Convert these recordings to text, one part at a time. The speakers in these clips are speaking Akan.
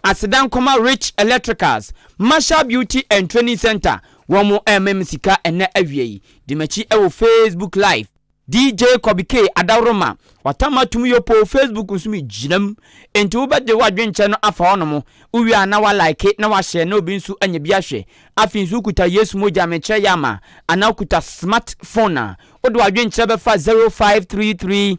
Aseda nkɔma Rich Electricals, Marshall Beauty and Training Center, wɔn ɛrema me sika ɛnnɛ awia yi. Di m'akyi ɛwɔ Facebook live, DJ Kɔbi K Adaworoma, Watam Atum Yopoo Facebook nso me gyina mu. Enti wo bɛ de wo adwenkyɛ no afa hɔ nom, wo wie a na wa like na wa share na obi nso anya bi ahwɛ. Afei nso wo kuta Yesu mogya me kyerɛ yɛ ama anaa wo kuta smart phone a, wo de w'adwenkyerɛ bɛfa 0533.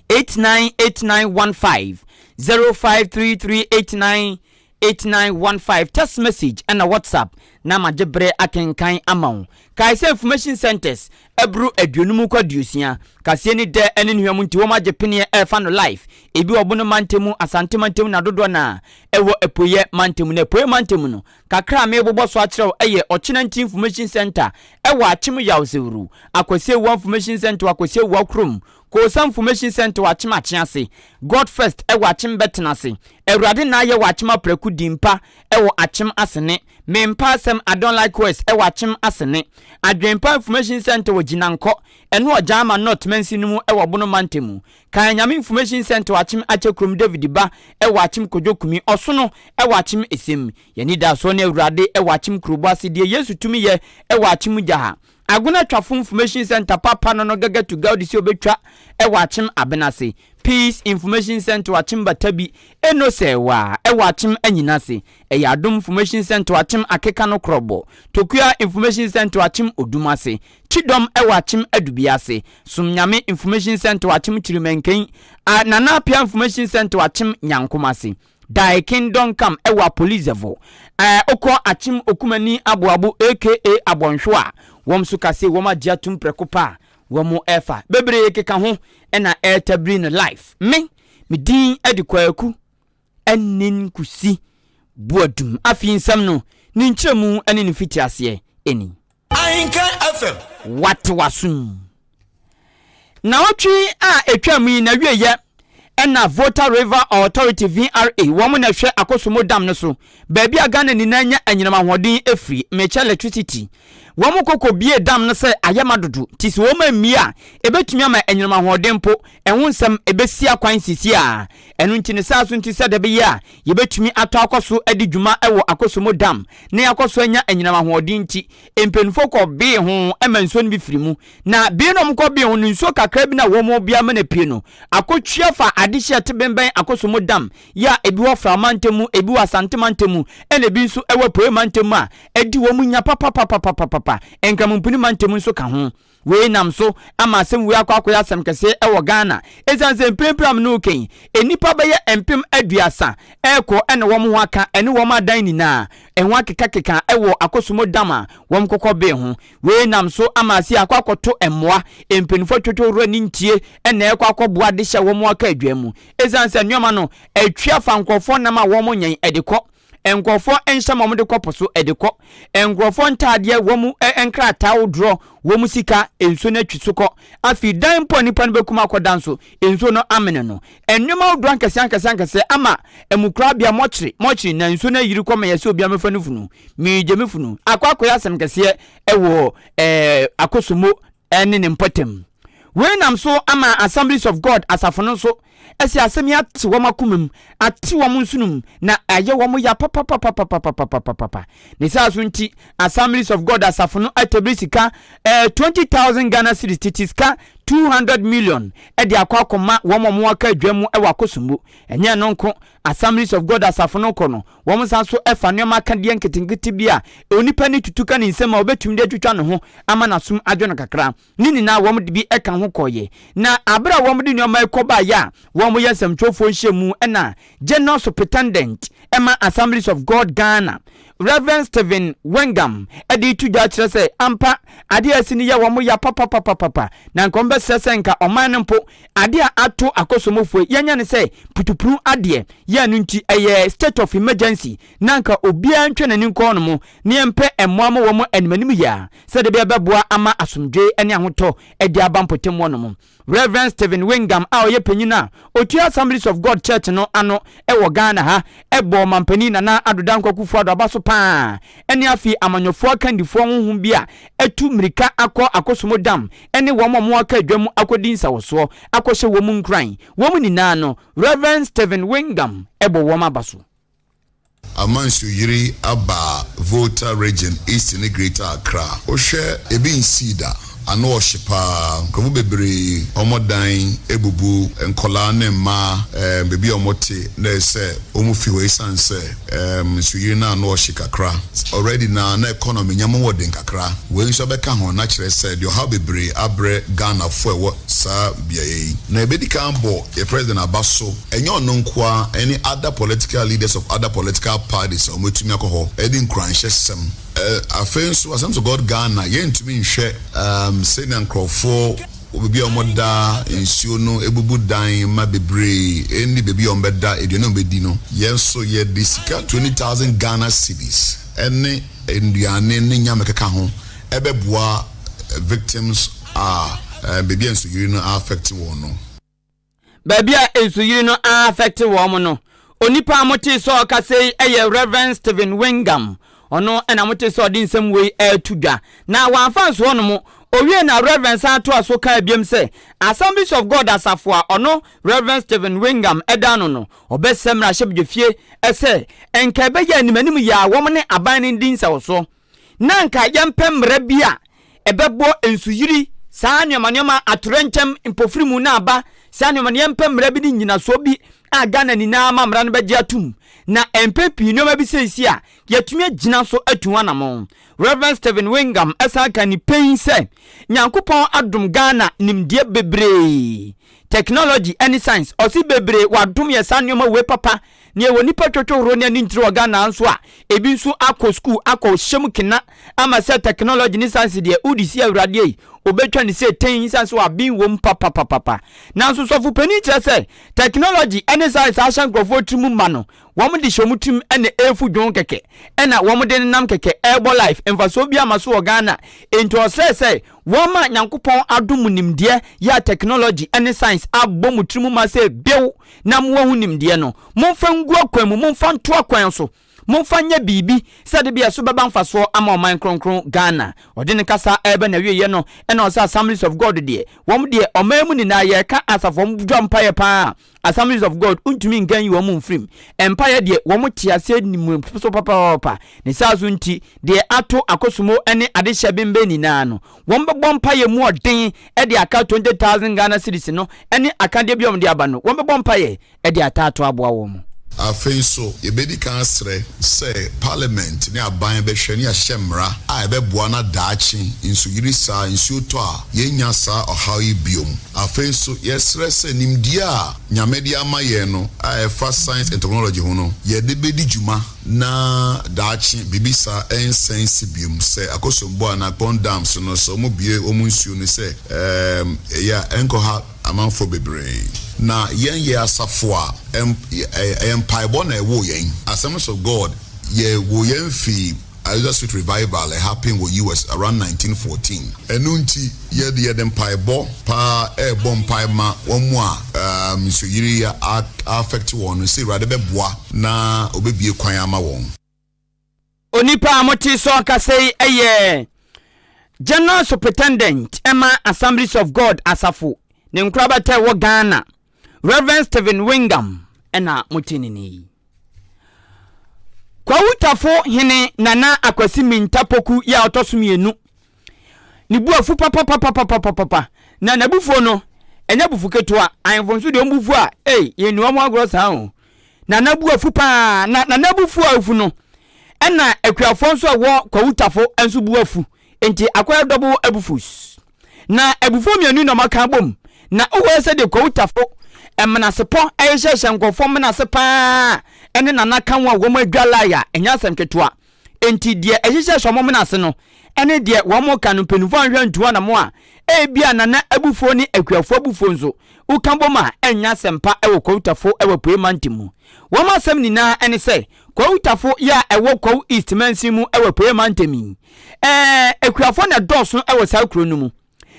eight nine eight nine one five zero five three three eight nine eight nine one five text message ɛna whatsapp na ma gye bere akenkan ama wo kae sɛ information centers ɛboro aduonum kɔ aduosia kaseɛ ne dɛ ɛne ne hwam nti wɔn agye peneɛ ɛrefa no life ebi wɔ bono mantam asante mantam na dodoɔ na ɛwɔ apueɛ mantam na apueɛ mantam no kakra a mebobɔ so akyerɛw ɛyɛ ɔkyenanti information center ɛwɔ akyem yawsewuru akwasiewua information center wɔ akwasiewua kurom Kosa Nfomehyin Sɛnte wɔ Akyem Akye ase, God First wɔ Akyem Bɛtena ase, Awurade Naayɛ wɔ Akyem Apraku Di Mpa wɔ Akyem Asene, Me Mpa Asɛm I Don't Like Words wɔ Akyem Asene, Adwenpa Nfomehyin Sɛnte wɔ Gyinankɔ ɛne Ɔgyaama North Mansin no mu wɔ Bono Mantam mu, Kae Nyame Nfomehyin Sɛnte wɔ Akyem Akyɛ Kurom David Ba wɔ Akyem Kojo Kumi Ɔsono wɔ Akyem Esem Yɛn Anidasoɔ ne Awurade wɔ Akyem Kurobɔ ase Deɛ Yesu Tumi Yɛ wɔ Akyem Gyaha Agonatwafo Information Centre papa no no gaga tu gaudi sɛ obetwa wɔ akyem aben ase. Peace Information Centre akyem bata bi eno sɛ wa wɔ akyem anyina ase. Ɛyɛ Adom Information Centre akyem akeka no korɔbɔ. Tokua Information Centre akyem odum ase. Kyidɔm wɔ akyem adubia ase. Som Nyame Information Centre akyem Kyirimɛnkɛn. A Nana Appiah Information Centre akyem Nyankom ase. Daekin Dɔnkam wɔ Apolizɛvo a ɔkɔ Akyem Okumani Aboabo aka Abɔnhwo a wɔn nso ka se wɔn agye atum prɛko pɛ a wɔn refa. Bebree keka ho na ɛretabiri no live. Me, me din de Kwaku Anin Kusi Boadum. Afei nsɛm no, ne nkyerɛmu ne ne mfitiaseɛ ni. Ahinkan FM. Wate w'asom. Naawɔtwe a ɛtwaam yi n'awieyɛ na Volta River Authority, VRA, wɔn na ɛhwɛ Akosombo Dam no so, baabi a Ghana nyinaa nya anyinam ahoɔden firi, Mekya Electricity. Wɔkɔ kɔbue dam no sɛ ayɛ ma dodo, nti sɛ wɔma mmue a, ɛbɛtumi ama anyinam ahoɔden mpo Ɛho nsɛm, ɛbɛsi akwan seesei ara. Ɛno nti ne saa so nti sɛ da bɛyɛ a yɛbɛtumi atɔ akɔ so adi dwuma wɔ Akosombo Dam na yɛakɔ so anya anyinam ahoɔden nti, mpaninfoɔ kɔ bee ho ma nsuo no bi firi mu. Na bee no a wɔkɔ bee ho no, nsuo kakra bi no a wɔn wɔ biara mana pue no, akɔtwia fa adehyeɛ a ɛte bembɛn Akosombo Dam yɛ a ɛbi wɔ Fra mantam mu, ɛbi wɔ Asante mantam mu, ɛna ɛbi nso wɔ Apueɛ mantam mu a ɛde wɔn nya papapapapapapa, Nkramompuni mantam nso ka ho. Wei nam so ama asɛm wei akɔ akɔyɛ asɛm kɛse wɔ Ghana ɛsiane sɛ mprempren a me ne wo reka yi, nnipa bɛyɛ mpem aduasa rekɔ na wɔn ho aka ne wɔn adan nyinaa ho akekakeka wɔ akosomɔ dam a wɔkɔkɔ bee ho. Wei nam so ama ase akɔ akɔto mmoa, mpanyinfoɔ atwitwa owura ne ntie na ɛrekɔ akɔboa de hyɛ wɔn aka aduan mu ɛsiane sɛ nnoɔma no atwi afa nkorɔfoɔ nam a wɔnyɛn de kɔ nkurɔfoɔ nhyɛ ma wɔde kɔ po so de kɔ, nkurɔfoɔ ntaadeɛ, wɔn nkrataa ahodoɔ, wɔn sika, nsuo no atwi so kɔ. Afei dan mpo a nipa no bɛkum akɔda nso, nsuo no amene no. Nneɛma ahodoɔ ankɛseɛ ankɛseɛ ankɛseɛ ama ɛmu korabea mɔkyere mɔkyere na nsuo no ayiri kɔ ma yɛsɛ obiara mɛfa ne funu. Megye me funu. Akɔ akɔyɛ asɛm kɛseɛ wɔ ɛɛ Akosomo ne ne mpɔtam. Wei nam so ama Assemblies of God asafo no nso asi asɛm yi ate wɔn akomam, ate wɔn nsonom, na ayɛ wɔn ya papapapapapapapapapa. Ne saa so nti, Assemblies of God asafo no atabiri sika eh, twenty thousand Ghana cedis, tete sika two hundred million, de akɔ akɔma wɔn a wɔaka adwam wɔ akosombo. Ɛnyɛ ɛno nko, Assemblies of God asafo no kɔ no, Wɔsan nso fa nneɛma akadeɛ nketenkete bi a onipa ani tutu ka ne nsam a ɔbɛtumi de atwitwa ne ho ama n'asom adwo no kakra. Ne nyinaa wɔde bi ka ho kɔeɛ. Na berɛ a wɔde nneɛma yi kɔbaeɛ a wɔyɛ nsɛmtwerɛfoɔ nhyiamu na General Superintendent ma Assemblies of God Ghana, Rev. Stephen Wengam de reto dwa akyerɛ sɛ ampa adeɛ a asi no yɛ wɔn ya papapapapa na nka wɔbɛsrɛ sɛ nka ɔman no mpo Adeɛ a ato Akosomofo yi, yɛanya ne sɛ putupunu adeɛ yɛ ɛno nti ɛyɛ state of emergency na anka obiara ntwa n'ani nkɔ hɔnom na yɛmpɛ mmoa ma wɔn animanim yea sɛdeɛ ɛbɛyɛ ɛbɛboa ama asomdwoe ne ahotɔ adi aba mpɔtam hɔnom. Rev. Stephen Wingham a ɔyɛ panyin a ɔtua Assemblies of God Church no ano wɔ Ghana ha bɔɔ Ɔmampanin Nana Addo Dankwa Akufo-Addo abaso pa ara ne afei amanyɔfoɔ akandifoɔ honhom bi a atu mmirika akɔ Akosombo Dam ne wɔn a wɔaka adwam akɔdi nsawɔsoɔ akɔhyɛ wɔn mu nkuran. Wɔn nyinaa no, Rev. Stephen Wingham bɔ wɔn aba so. Ama nsuo yiri aba Volta Region East ne Greater Accra. Wohwɛ ebi nsii da. Ano ɔhye paa. Nkurɔfo bebree wɔn dan abubu. Nkwadaa ne mmaa, ɛɛ, baabi a wɔte no ayɛ sɛ wɔn fi hɔ esiane sɛ. Erm nsuyiri no ano ɔhye kakra already na na economy nyɛ mo wɔ den kakra. Wei nso ɛbɛka ho na kyerɛ sɛ deɛ ɔhaw bebree abrɛ Ghana foɔ ɛwɔ saa beaeɛ yi. Na yɛbɛdi kan abɔ yɛ president aba so, ɛnyɛ ɔno nko ara ɛne other political leaders of other political parties a wɔatumi akɔ hɔ ɛde nkuranhyɛ sɛm. Erm afei nso Assembles of God Ghana yɛntumi nhwɛ erm sɛnea nkorɔfoɔ. Wɔ baabi a wɔda nsuo no bubu dan mma bebree nni baabi a wɔbɛda aduane a wɔbɛdi no. Yɛn nso yɛde sika twenty thousand Ghana cedis ne nnuane ne nyama ɛkeka ho bɛboa victims a baabi a nsuyiri no a affect wɔn no. Baabi a nsuyiri no afɛkte wɔn no, onipa a motee sɛ ɔkasa yi yɛ Rev. Stephen Wingham. Ɔno na motee sɛ ɔde nsɛm wei reto dwa. Na wamfa anso hɔ nom. Owiee na Rev. san toa so kaa biom sɛ, Assemblies of God asafo a ɔno Rev. Stephen Wingham da ano no, ɔbɛsrɛ mmarahyɛbedwafie sɛ nka ɛbɛyɛ a animanim yɛ a wɔne aban no di nsɛw so. na anka yɛmpɛ mmara bi a ɛbɛbɔ nsuyiri, saa nneɛma nneɛma, atoyerɛnkyɛm, mpofirimu na aba, saa nneɛma no, yɛmpɛ mmara bi ne nnyinasoɔ bi a Ghana nyinaa ama mmara no bɛgye atom. Na mpɛn pii nneɛma bi sɛɛ si a, yɛatumi agyina so atu ho anammɔn. Rev. Stephen Wingham san ka ne pɛn sɛ, Nyankopɔn adom Ghana nimdeɛ bebree technology ɛne science ɔse bebree wadom yɛ saa nnoɔma wei papa na yɛwɔ nipa twotwo horoɔ ne anintire wɔ Ghana ha nso a ebi nso akɔ school akɔ hyɛ mu kena ama sɛ technology ne science deɛ wode si awurade ei obɛtwa ne sɛ tɛn sane sɛ waben wɔ mu papapapapa nanso sɔfo panin kyerɛ sɛ technology ɛne science ahyɛ nkurɔfoɔ tiri mu ma no wɔn de hyɛ wɔn tirim ɛna ɛrefu dwon kɛkɛ ɛna wɔn de nenam kɛkɛ ɛrebɔ life mfasoɔ bi ama so wɔ Ghana enti ɔsrɛ sɛ Wɔama Nyankopɔn adom mu nimdeɛ yɛ a technology ne science abɔ mo tiri mu ma sɛ bew na mo ahu nimdeɛ no. Momfa ngu akwan mu, momfa nto akwan so, momfa nyɛ biribi sɛ de bia so bɛba mfasoɔ ama ɔman kronkron Ghana. Ɔde ne kasa reba n'awieɛ no na ɔse Assemblies of God deɛ wɔn deɛ ɔman mu nyinaa yɛreka asafo wɔn dwa mpaeɛ paa. Assemblies of God ntumi nka nyi wɔn mfiri mu. Mpaeɛ deɛ, wɔte aseɛ nim so papaapa. Ne saa so nti, deɛ ato akosomo ne adehyɛ bembɛ nyinaa no, wɔbɛbɔ mpaeɛ mu ɔden de aka twenty thousand Ghana cedis no ne akadeɛ bi a wɔde aba no, wɔbɛbɔ mpaeɛ de ataa to aboa wɔn. Afei nso, yɛbɛdi kan asrɛ sɛ Parliament ne aban bɛhwɛ na yɛahyɛ mmara a ɛbɛboa na daakye nsuyiri saa, nsuo tɔ a, yɛrennya saa ɔhaw yi biom. Afei nso, yɛsrɛ sɛ nimdeɛ a Nyame de ama yɛn no a ɛfa science and technology ho no, yɛde bɛdi dwuma na daakye biribi saa ɛnsan nsi biom. Sɛ Akosombo anaa Kpong dams no, sɛ wɔbue wɔn nsuo no sɛ ɛɛm ɛyɛ a, ɛnkɔha amanfoɔ bebree. Na yɛn yɛ asafo a ɛm ɛyɛ mpaebɔ na ɛwoo yɛn. Asɛm no sɛ God, yɛwoo yɛn fii Azusa Street Revival a ɛhappen wɔ US. around nineteen fourteen. Ɛno nti, yɛde yɛde mpaebɔ paa rebɔ mpae ma wɔn a um nsuoyiri yi a affect wɔn no sɛ Awurade bɛboa na ɔbɛbue kwan ama wɔn. Onipa a mote so kasa yi yɛ General Supritendent ma Assemblies of God Asafo ne nkorabata a ɛwɔ Ghana. Rev. Stephen Wingham na mote ne nne yi. Kwawutafo hene Nana Akwasi Minta Poku yɛ a ɔtɔ so mmienu. Ne bu afu papapapapapapa na n'abufuo no ɛnyɛ abufu ketewa. Ahemfo nso deɛ ɔbufu a ei yɛnni wɔn agorɔ saa o. Nana bu afu paa na Nana abufuo a afu no ɛna akuafoɔ nso a ɛwɔ Kwawutafo nso bu afu. Nti akɔyɛ double abufus. Na abufuo mmienu na wɔaka abom, na wohwɛ sɛ deɛ Kwawu Tafo menasepɔ rehyɛhyɛ nkurɔfoɔ menase paa ne Nana Ka ho a wɔn adwa lie a, ɛnyɛ asɛm ketewa. Enti deɛ ɛhyehyɛhyɛ wɔn menase no ne deɛ wɔka no mpanimfoɔ anhwɛ antu anamo a, ebia Nana abufuo ne akuafoɔ abufuo nso, woka bom a, ɛnyɛ asɛm pa wɔ Kwawu Tafo wɔ Apueeɛ Mantam mu. Wɔn asɛm nyinaa ne sɛ Kwawu Tafo yɛ a ɛwɔ Kwawu East mansin mu wɔ Apueeɛ Mantam yi. Ɛɛ, akuafoɔ na ɛdɔɔso wɔ saa kuro no mu.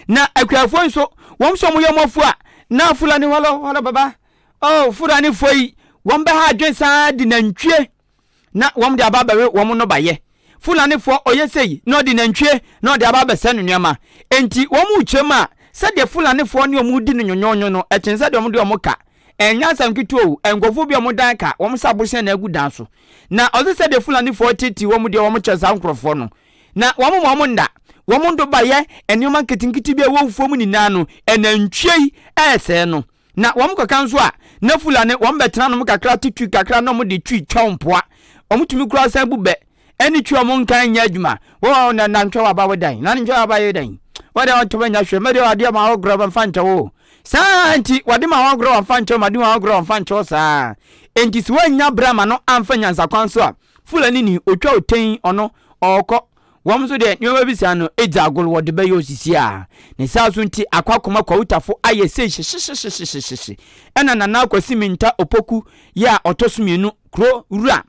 Na akuafoɔ yi nso, wɔn nso wɔyɛ wɔn afua. Na Fulani hɔlɔ hɔlɔ baba, oh, Fulanifoɔ yi, wɔbɛha adwene saa de nantwie na wɔde aba abɛwe wɔn nnɔbaeɛ. Fulanifoɔ ɔyɛ sei na ɔde nantwie na ɔde aba abɛsɛe no nneɛma. Enti wɔn rekyerɛ mu a, sɛdeɛ Fulanifoɔ ne wɔn redi no nyonyoonyo no, ɛkyɛn sɛdeɛ wɔde wɔn ka. Ɛnyɛ asɛm ketewa o, nkurɔfoɔ bi a wɔn dan ka, wɔn sɛ abosea na agu dan so. Na ɔse sɛdeɛ Fulanifoɔ teetee wɔn deɛ wɔn kyɛ saa nkurɔfoɔ no, na wɔn ma wɔn nna, wɔn ndoba yɛ nneɛma nketenkete bi a ɛwɔ wufoɔ mu nyinaa no, ɛnantwie yi ɛresɛɛ no. Na wɔn kɔka nso a, na Fulani wɔn bɛtena nom kakra te twi kakra na wɔn de twi twa wɔn mpoa, wɔn tumi koraa san bu bɛ. ɛne twi ɔmo nka nyɛ adwuma wo a na nantwɛ waba wo dan na nantwɛ waba yɛ dan wo deɛ ɔntoma nya hwɛ mɛdeɛ ɔdeɛ ma ɔgorɔ bɛmfa nkyɛ wo saa nti wɔde ma ɔgorɔ wɔmfa nkyɛ wo ma de ma ɔgorɔ wɔmfa nkyɛ wo saa nti sɛ woannya berɛ ama no amfa nyansa kwan so a fulani ni ɔtwa wo tɛn ɔno ɔɔkɔ wɔn nso deɛ nneɛma bi saa no ɛdzi agolo wɔde bɛyɛ osisi a ne saa so nti akɔ akoma kwawutafo ayɛ sei hyehyehyehyehyehye ɛna nana akwasi minta opoku yɛ a ɔtɔ so mmienu kuro wura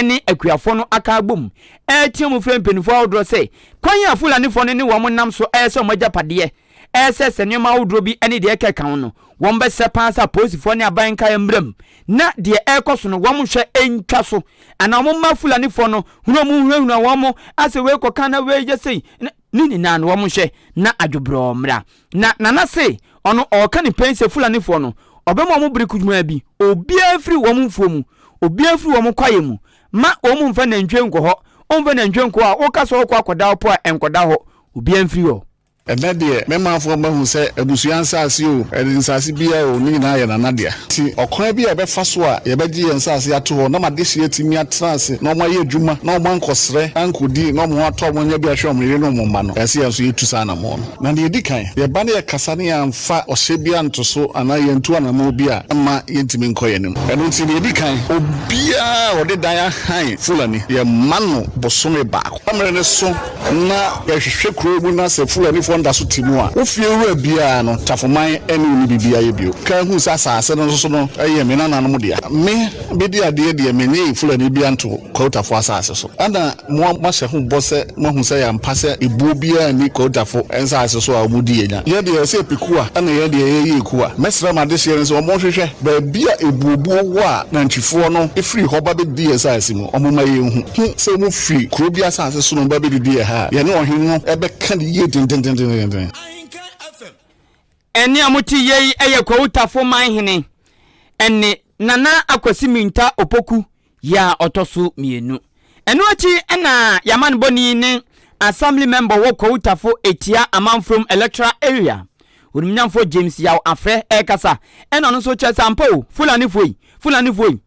ne akuafoɔ no aka abom retea mu frɛ mpanimfoɔ ahodoɔ sɛ kwan a Fulanifoɔ no ne wɔn nam so reyɛ sɛ wɔn agyapadeɛ resɛe sɛ nneɛma ahodoɔ bi ne deɛ ɛka ɛka ho no, wɔbɛsrɛ paa sɛ apolisifoɔ ne aban nkaeɛ mmra mu na deɛ ɛrekɔ so no wɔnhwɛ ntwa so anaa wɔmma Fulanifoɔ no hunu wɔn nhunahuna wɔn sɛ wei kɔka na wei yɛ sei na Ne nyinaa no wɔn nhwɛ na adwobrɔɔ mmra. Na Nana se ɔno ɔɔka ne pɛn sɛ Fulanifoɔ no ɔbɛma wɔn bere kujumaa bi, obiara firi wɔn mfuo mu, obiara firi wɔn kwaeɛ mu, ma wɔn mfa nantwie nkɔ hɔ, wɔmfa nantwie nkɔ hɔ a woka sɛ ɔɔkɔ akɔda hɔ po a ɛnkɔda hɔ, obiara mfiri hɔ. Ɛnnɛ deɛ, me manfoɔ mahu sɛ abusua nsaase o, nsase biara o, ne nyinaa yɛ Nana dea. Enti ɔkwan bi a yɛbɛfa so a yɛbɛgye yɛn nsase ato hɔ na ama adehyeɛ atumi atena ase na wɔayɛ adwuma na wɔankɔsrɛ ankɔdi na wɔatɔ wɔn anya bi ahwɛ wɔn yere ne wɔn mma no, ɛsɛ sɛ yɛn nso yɛtu saa anammɔn no. Na deɛ ɛdi kan, yɛba na yɛkasa na yɛamfa ɔhyɛ biara nto so anaa yɛantu anammɔn bi a, ɛmma yɛntumi nkɔ yɛn anim. Ɛno nti, deɛ ɛdi kan, obiara a ɔde dan ahan Fulani, yɛmma no bosome baako. Mmerɛ no so na yɛhwehwɛ kurow mu na sɛ Fulanifoɔ no da so te mu a, wo fie wura biara no, Tafoman ne wo nni biribi ayɛ bio. Kaa hui sɛ asase no nso so no yɛ me nananom dea. Me, bɛdi adeɛ deɛ mennye Fulani biara nto Kwautafoɔ asase so. Ɛna mo a moahyɛ ho bɔ sɛ moahu sɛ yɛampa sɛ ebuo biara nni Kwautafo nsase so a wɔdi yɛn nya. Yɛn deɛ yɛsɛ yɛpɛ kuwa na yɛn deɛ yɛyɛ ekuwa. Mɛsrɛ m'adehyeɛ no sɛ wɔnhwehwɛ baabi a ebuobuo wɔ a nantwifoɔ no firi hɔ ba bɛdi yɛn asase mu. Wɔma yehu sɛ wofi kurow bi asase so na wɔba bedidi ɛha a, yɛne ɔhene no bɛka no yiye denneennen. Ɛnne a mote yei yɛ Kwahu Tafo man hene ɛnne Nana Akwasi Minta Opoku yɛ a ɔtɔ so mmienu. Ɛno akyi na Y'amanbɔni ne Assembly Member wɔ Kwahu Tafo Etia Amanfrom Electoral Area, Onimnyamfoɔ James Yaw Afrɛ ɛrekasa ɛna ɔno nso kyerɛ sɛ ampa o, Fulanifoɔ yi, Fulanifoɔ yi.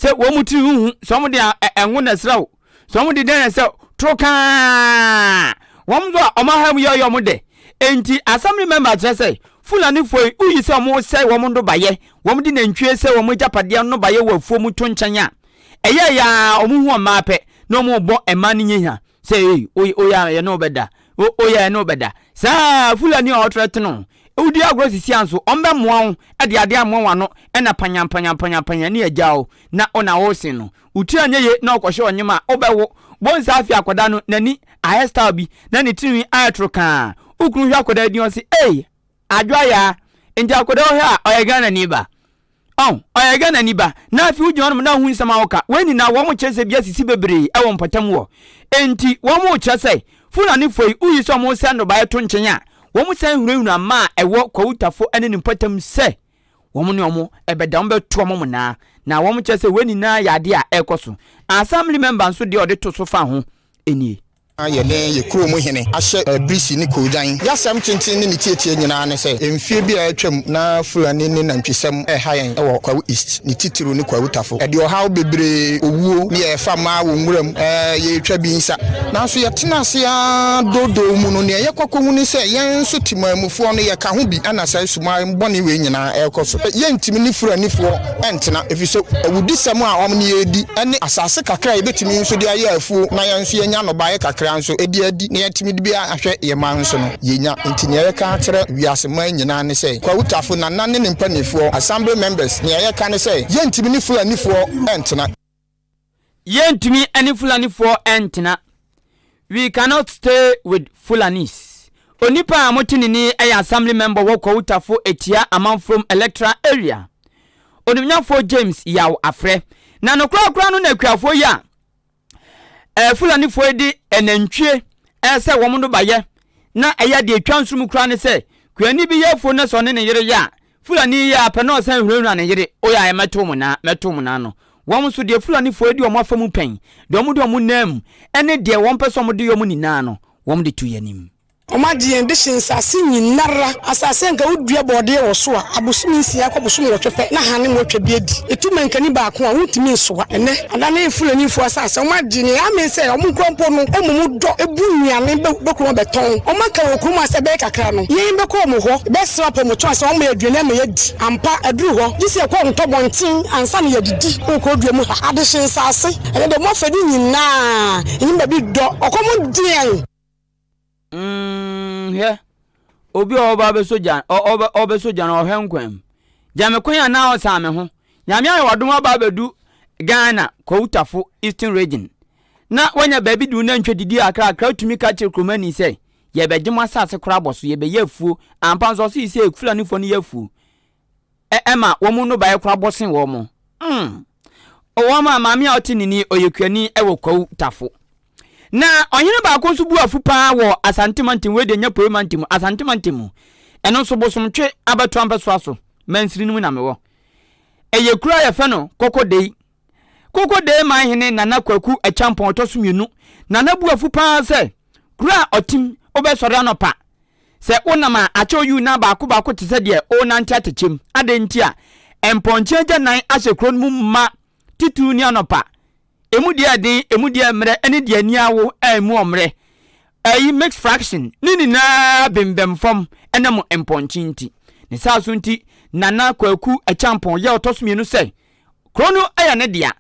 sɛ wɔn mu tiri ho hu sɛ wɔn de ɛngo na ɛsra o sɛ wɔn de dɛn na ɛsɛ toro kaa wɔn nso a wɔn aha mu yɛ ɔyɛ wɔn dɛ nti assembly member kyerɛ sɛ fulanifoɔ yi woyi sɛ wɔn sɛ wɔn nnobayɛ wɔn de nantwie sɛ wɔn agyapadeɛ nnobayɛ wɔ afuo mu to nkyɛn a ɛyɛ yaa wɔn hu ɔmaa pɛ na wɔn bɔ ɛmaa no nyɛ hia sɛ ee oyɛ oyɛ ɛne ɔbɛda oyɛ ɛne ɔbɛda saa fulani a ɔtrɛ tene Wodi agorɔ sisi a nso ɔmbɛmoa wo de adeɛ amoa w'ano na panyanpanyanpanyanpanyan ne agya wo na wo na wosen no. Wo tiri anyɛ yie na ɔkɔhyɛ ɔnyem a wobɛwo. Bɔ nsa afee akwadaa no n'ani ayɛ style bi na ne tirinwi ayɛ toro kaa. Wo kunu hwɛ akwadaa din ɔse ei! Adwoa yaa! Nti akwadaa wo hɛ a ɔyɛ Ghanani ba? Oh ɔyɛ Ghanani ba na afei wogyina hɔnom na wohu nsɛm a wɔka. Wei nyinaa wɔn kyerɛsɛ bi asisi bebree wɔ mpɔtam hɔ. Enti wɔn rekyerɛ sɛ Fulanifo yi woyi sɛ wɔresɛe nnɔbaeɛ to nkyɛn a, wɔsan hunahuna mma a ɛwɔ Kwautafo ne ne mpɔtam sɛ wɔn ne wɔn bɛda, wɔbɛto wɔn mmonnaa. Na wɔkyerɛ sɛ wei nyinaa yɛ adeɛ a ɛrekɔ so. Assembly member nso deɛ ɔde to so fa ho nie. na yɛne yɛn kurow mu hene ahyɛ birisi ne koogyan. Y'asɛm tenten ne ne tietie nyinaa ne sɛ, mfie bi a atwam na Fulani ne nantwisɛm reha yɛn wɔ Kwawu East, ne titiriw ne Kwawu Tafo. Ɛde ɔhaw bebree, owuo, ne yɛn fa maa wɔ nwuram. Yɛretwa bi nsa. Nanso yɛtena ase ara doodoo mu no, nea yɛkɔ kohu ne sɛ yɛn nso Temanmufoɔ no yɛka ho bi na saa sumae bɔne wei nyinaa rekɔ so. Yɛntumi ne Fulanifoɔ. ɛntena, efisɛ awudisɛm a wɔn ne yɛn redi ne asase kakra a yebetumi nso de ayɛ afuw na yɛn nso yɛanya nnɔbae kakra nso de adi na yɛatumi de bi ahwɛ yɛn mma nso no, yenya. Enti nea yɛka akyerɛ wiase man nyinaa ne sɛ, Kwawutafo, Nana ne ne mpanimfoɔ, Assembly members, nea yɛka ne sɛ, Yɛrentumi ne Fulanifoɔ ntena. Yɛntumi ne Fulanifoɔ ntena. We cannot stay with Fulanis. Onipa a mote ne ni yɛ Assembly Member wɔ Kowutafo Atia Amanfrom Electoral Area, Onimnyafoɔ James Yaw Afrɛ. Na nokorɛkoraa no na akuafoɔ yi a eh, Fulanifoɔ yi de anantwie eh, sɛ wɔn no bayɛ na ɛyɛ deɛ ɛtwa nsono koraa ne sɛ kuani bi yɛ afuo na sɛ ɔne ne yere yɛ a Fulani yi a pɛ na ɔsan hunahuna ne yere o yɛ a mɛto mo nan, mɛto mo nan no. Wɔn nso, deɛ Fulanifoɔ adi wɔn afa mu pɛn, deɛ wɔde wɔn nam mu, ne deɛ wɔpɛ sɛ wɔde yɛ wɔn nyinaa no, wɔde to yɛn anim. Wɔagye yɛn de hye nsase nyinara, asase a anka wodua bɔɔdeɛ wɔ so a, abosome nsia kɔ bosome nwɔtwe pɛ na hane mu atwa bi adi. Etu mankani baako a, wontumi nsoa. Ɛnnɛ, Ana ne Fulanifo asase a wɔagye nea amee sɛ wɔnkura mpo no mmom dɔ bu nnuane bɛkɔ mu abɛtɔn. Wɔaka wɔ kurom ha sɛ bɛyɛ kakra no, yɛn bɛkɔ wɔn hɔ bɛsra apɔmuden sɛ wɔmma yɛn aduane ama yɛadi. Ampa, aduru hɔ, gye sɛ yɛkɔ wɔn ntɔbɔnten ansa na yɛadidi. Wɔ Kokorodua mu ha, adehye nsase, ɛnɛ de wɔn afade nyinaa nnim baabi dɔ. Ɔkɔm de yɛn. Mm, hwɛ, obi a ɔba ɔbɛsɔ gya, ɔbɛ ɔbɛsɔ gya na ɔhwɛ nkwan mu. Gya me kwan a na ɔsan me ho. Nyame ayɛ wadom aba abɛdu Ghana Kowtafo Eastern Region. Na wanya baabi de nantwi didi akra akra atumi ka kyerɛ kuromani sɛ yɛbɛgye mo asase koraa bɔ so yɛbɛyɛ afuo. Ampa nso ɔse yi sɛ Fulanifoɔ no yɛ afuo. ɛ ɛma wɔn mu nnɔbaeɛ koraa bɔ sen wɔn. Mm. Wɔn a maame a ɔte nini ɔyɛkuani wɔ Kwawu Tafo. Na ɔhene baako nso bu afu paa wɔ Asante mantam wei deɛ nyɛ Poi mantam mu, Asante mantam mu. Ɛno nso Bosomtwe abatoa mpɛsoa so, Mansini no mu na mewɔ. Ɛyɛ kuro a yɛfɛ no Kɔkɔdei. Kokodee man hene Nana Kwaku Acheampong ɔtɔ so mmienu na na bu afu paa sɛ, Kuro a ɔtem, wobɛsɔre anɔpa? Sɛ wonam a, akyɛ woyi wo nan baako baako te sɛ deɛ worenante atekyem. Adɛn nti a? Mpɔnkye agyanan ahyɛ kuro no mu ma titiriw ne anɔpa. Emu deɛ ɛden, emu deɛ mmerɛ ne deɛ ani awo a emu ɔmmerɛ. Ɛyi, mixed fraction, ne nyinaa bembɛm fam ɛnam mpɔnkye nti. Ne saa so nti, Nana Kwaku Acheampong yɛ ɔtɔ so mmienu sɛ Kuro no yɛ ne dea.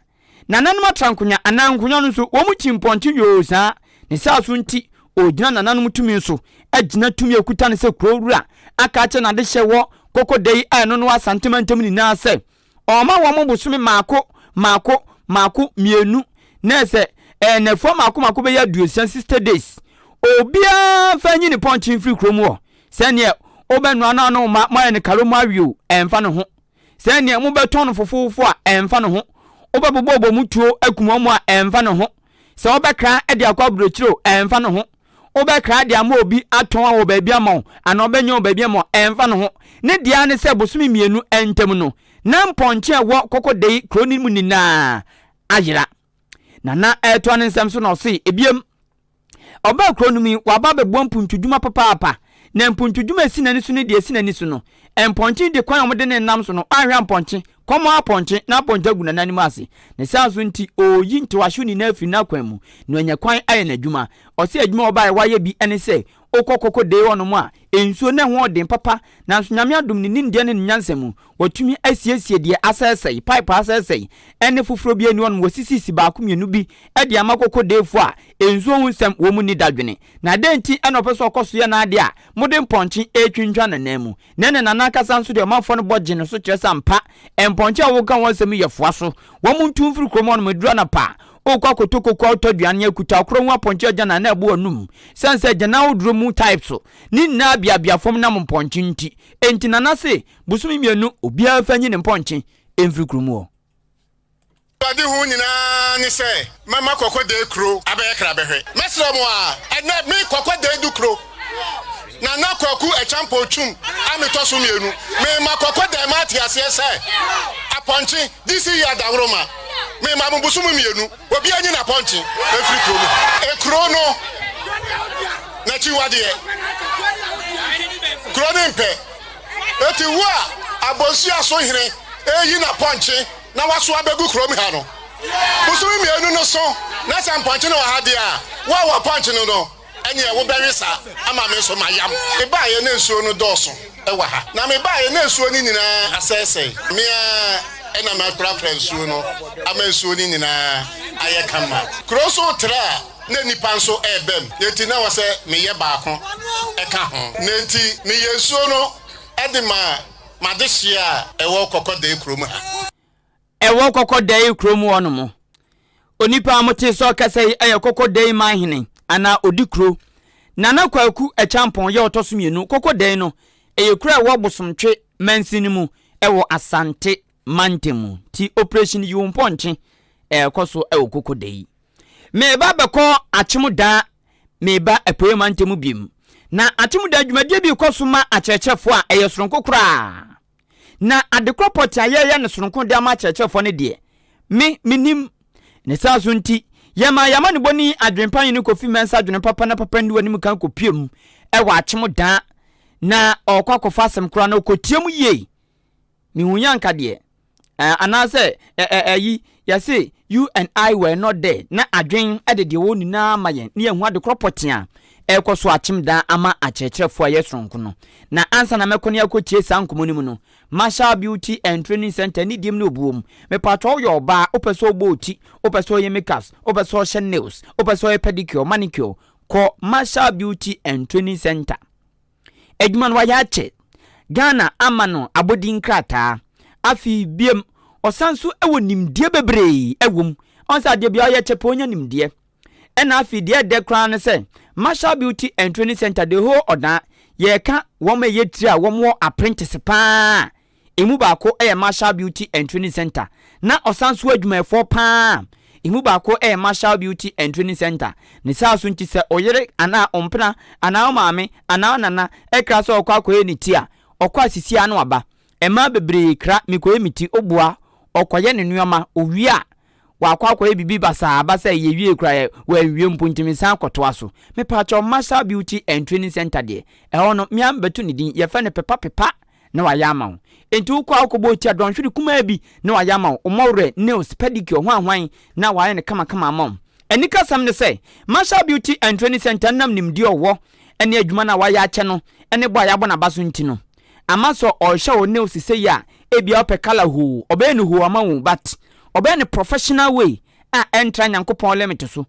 Nananom atrankonwa anaa nkonwa no nso, wɔkyi mpɔnkye yoo saa. Ne saa so nti, ɔregyina nananom tumi so agyina tumi a ɔkuta no sɛ kuro wura, aka akyerɛ n'adehyɛ wɔ Koko da yi a ɛno ne wɔ Asante mantam nyinaa sɛ, ɔrema wɔn bosome mmaako mmaako mmaako mmienu na ɛsɛ ɛɛ nnafua mmaako mmaako bɛyɛ aduosia, sixty days. Obiara mfa nyi ne pɔnkye mfiri kurom hɔ. Sɛdeɛ wobɛnoa no a na wo mma moayɛ no karo moawe o, ɛmfa ne ho. sɛ nea mobɛtɔn no fofofo a, ɛmfa ne ho. Wobɛbobɔ wɔn mu tuo akum wɔn a, ɛmfa ne ho. Sɛ wobɛkra de akɔ aburokyiri o, ɛmfa ne ho. Wobɛkra de ama obi atɔn a wɔ baabi ama wo, anaa ɔbɛnyɛ wɔ baabi ama wo, ɛmfa ne ho. Ne deɛ ara ne sɛ bosome mmienu ntam no, na mpɔnkye a ɛwɔ Koko Dayi kuro no mu nyinaa ayera. Nana ɛretoa ne nsɛm so na ɔse, Ebiem, ɔbaa kuro no mu yi, waba abɛboa mpuntudwuma papaapa, na mpuntudwuma a esi n'ani so ne deɛ esi n'ani so no, mpɔnkye de kwan a wɔde no nam so no, anhwɛ a mpɔnkye, kɔm ara pɔnkye, na apɔnkye agu Nana anim ase. Ne saa nso nti, ɔreyi ntowahyew nyinaa afiri n'akwan mu, na wanya kwan ayɛ n'adwuma. Ɔse adwuma a ɔbaeɛ wayɛ bi ne sɛ, Wokɔ koko dee hɔ nom a, nsuo no ɛho yɛ den papa, nanso Nyame adom ne nimdeɛ ne ne nyansa mu, watumi asiesie deɛ asɛesɛe, pipe a asɛesɛe, ɛne foforɔ bi ɛni hɔ nom, wasisisi baako mmienu bi de ama koko dee foɔ a nsuo ho nsɛm wɔn nni dadwene. Na dɛn nti na ɔpɛ sɛ ɔkɔ so yɛ n'adeɛ a mode mpɔnkye ɛretwintwa n'ananmu? na ne nana ankasa nso deɛ ɔmanfoɔ no bɔ gye ne so kyerɛ sɛ ampa mpɔnkye a woka wɔn asɛm yi yɛ foa so. Wɔn ntu mfiri kurom hɔnom, ɛduru anapa a, worekɔ akɔtɔ kokoa wotɔ aduane nyɛ akuta ɔkorɔ hu apɔnkye agyanan na ɛbo anum sane sɛ agyanan ahodoɔ mu type so ne nyinaa beabea fam nam mpɔnkye nti. Enti nana se bosome mmienu obiara mfa nyi ne mpɔnkye mfiri kurom hɔ. Awurade hu nyinaa ne sɛ mɛma kɔkɔdɛɛ kuro abɛyɛ krabɛhwɛ. Mɛsrɛ mo aa, ɛnnɛ me kɔkɔdɛɛ du kuro. Nana Kwaku Acheampong Twum a metɔ so mmienu. Mema kɔkɔdɛɛ ma ate aseɛ sɛ apɔnkye de si yɛ dawuroma. Mema mo bosom mmienu. Obiara nyi n'apɔnkye mfiri kuro mu. Kuro no n'akyiwadeɛ, kuro no mpɛ. Enti wo a abonsia so hene reyi n'apɔnkye na wɔasow abegu kurom ha no. Bosome mmienu no so na sɛ mpɔnkye no wɔ ha deɛ a, wo a wɔpɔnkye no no, ɛneɛ wobɛwe saa ama me nso mayam. Mebaeɛ na nsuo no dɔɔso wɔ ha, na mebaeɛ na nsuo no nyinaa asɛesɛe. Me ara na mɛprapra nsuo no ama nsuo no nyinaa ayɛ kama. Kuro nso retrɛ a na nnipa nso reba mu, enti na ɛwɔ sɛ meyɛ baako ka ho. Na enti meyɛ nsuo no de ma M'adehyeɛ a ɛwɔ Kɔkɔdae kurom ha. Ɛwɔ Kɔkɔdae kurom hɔ nom. Onipa a mote sɛ ɔkasa yi yɛ Kɔkɔdae man hene anaa ɔdi kuro. Nana Kwaku Acheampong yɛ ɔtɔ so mmienu. Kɔkɔdae no, ɛyɛ kuro a ɛwɔ Bosomtwe mansin no mu wɔ Asante mantam. Nti Operation Yiwo Mpɔnkye rekɔ so wɔ Kɔkɔdae. Mereba bɛkɔ Akyemda, mereba Apueɛ Mantam mu biom. Na Akyemda dwumadie bi rekɔ so ma akyerɛkyerɛfoɔ a ɛyɛ soronko koraa. Na adekorɔ pɔtee a yɛreyɛ no soronko de ama akyerɛkyerɛfoɔ no deɛ, me, mennim. Ne saa so nti, yɛmaa yɛn amanebɔni adwempa hene Kofi Mensah adwene papa na papa nni w'anim kan kɔpue mu wɔ Akyemda. Na ɔrekɔ akɔfa asɛm korɔ a na ɔkɔtia mu yie. Mehu yɛ anka deɛ eh, anaasɛ eh, eh, ayi, yɛse you and I were not there, na adwen de deɛ ɛwɔ nyinaa ma yɛn na yɛahu adekorɔ pɔtee a ɛrekɔ so akyem daa ama akyerɛkyerɛfoɔ a ɛyɛ soronko no. Na ansa na mɛkɔ ne akɔtie saa nkɔmmɔ no mu no, Marshall Beauty and Training Center ne diem ne obuo mu. Mepaatwa woyɛ ɔbaa, wopɛ sɛ wobɔ wo ti, wopɛ sɛ woyɛ makeups, wopɛ sɛ wohyɛ nails, wopɛ sɛ woyɛ pedicure, manicure, kɔ Marshall Beauty and Training Center. adwuma no wayɛ akyɛ Ghana ama no abɔdin nkrataa. Afei biom ɔsan so wɔ nimdeɛ bebree wɔ mu. Ɔn sɛ adeɛ biaa ɔyɛ kyɛ pɛ ɔnya nimdeɛ. Ɛna afei deɛ ɛdɛ koraa ne sɛ Marshall Beauty and Training Centre the whole Ɔdan yɛka wɔn a ɛyɛ tire a wɔn wɔ aprentese paa a Emu baako yɛ Marshall Beauty and Training Centre, na ɔsan so adwumayɛfoɔ pa ara a emu baako yɛ Marshall Beauty and Training Centre. Ne saa so nti sɛ ɔyere anaa ɔmpena anaa ɔmaame anaa ɔnana kra sɛ ɔkɔ akɔyɛ ne ti a, ɔkɔ a sisi ara na waba. Mmaa bebree kra mekɔyɛ me ti, ɔboa, ɔkɔyɛ ne nnoɔma, ɔwie a Wakɔ akɔyɛ biribi basaa basaa yi ewiei koraa yɛ wanwie mpo nti mesan kɔtoa so. Mepaakyɛw Marshall Beauty and Training Centre deɛ, ɛhɔ no mea mebɛto ne din, yɛfrɛ no Pepa Pepa na wayɛ ama wo. Enti wokɔ a wokɔbɔ wo ti a dɔnhwere kumaa bi na wayɛ ama wo, wo mmɔwerɛ, nails, pedicure, hwan hwan na wayɛ no kama kama ama wo. Anikasɛm ne sɛ, Marshall Beauty and Training Centre nam nimdeɛ a ɔwɔ ne adwuma no a wayɛ akyɛ no ne bɔ a yɛabɔ no aba so nti no, ama sɛ ɔrehyɛ wo nails sesei a ebia wopɛ colour hoo ɔbɛyɛ no hoo ama wo but ɔbɛyɛ no professional way a ɛntra Nyankopɔn limit so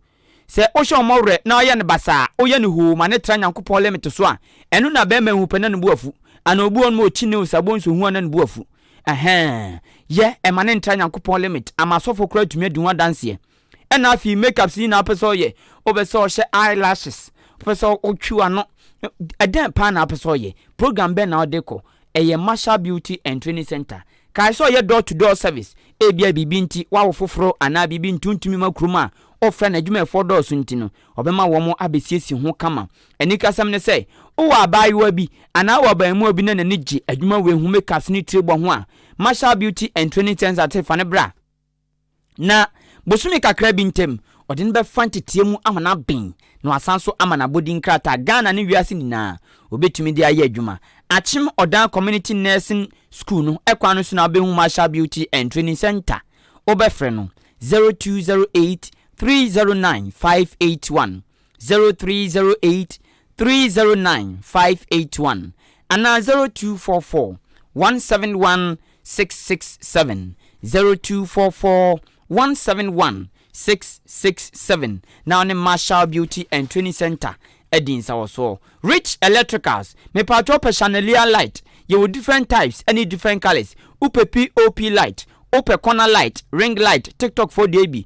sɛ wohyɛ ɔmɔ werɛ na ɔyɛ no basaa a woyɛ no hoo ma no tra Nyankopɔn limit so a ɛno na bɛɛma ehu pɛ na ne bo afu anaa obi wɔ hɔ nom a ɔkyi nails a bonso hu a na ne bo afu ɛhɛɛn yɛ ɛma no ntra Nyankopɔn limit ama asɔfoɔ koraa tumi adi ho adanseɛ Ɛna afei makeups nyinaa wopɛ sɛ ɔyɛ wopɛ sɛ ɔhyɛ eye lashes wopɛ sɛ ɔtwi w'ano ɛdɛn paa na wopɛ sɛ ɔyɛ program bɛn na wode kɔ ɛyɛ marshal beauty and training center kae sɛ ɔyɛ door to door service ebia biribi nti wawo foforɔ anaa biribi nti wontumi ma kurom a wofrɛ no adwumayɛfoɔ dɔɔso nti no ɔbɛma wɔn abɛsiesie ho kama anikasɛm ne sɛ wowɔ abaayewa bi anaa wɔ abaamuwa bi na n'ani gye adwuma wei ho makeups ne tiri bɔ ho a marshal beauty and training center te fa ne bra Na bosome kakra bi ntam, ɔde no bɛfa nteteɛ mu ama no aben na wasan nso ama no abɔdin krataa Ghana ne wiase nyinaa wɔbɛtumi de ayɛ adwuma. Akyem Odan Community Nursing School no kwan no so na wobɛhu Marshall Beauty and Training Centre. Wobɛfrɛ no 0208 309 581. zero three zero eight three zero nine five eight one anaa zero two four four one seven one six six seven zero two four four one seven one six six seven na ɔne Marshall Beauty and Training Center adi nsawɔsoɔ. Rich Electricals, mepatwɔ pɛ chandelier light, yɛwɔ different types ɛne different colours, wopɛ POP light, wopɛ corner light, ring light, TikTok foɔ deɛ bi,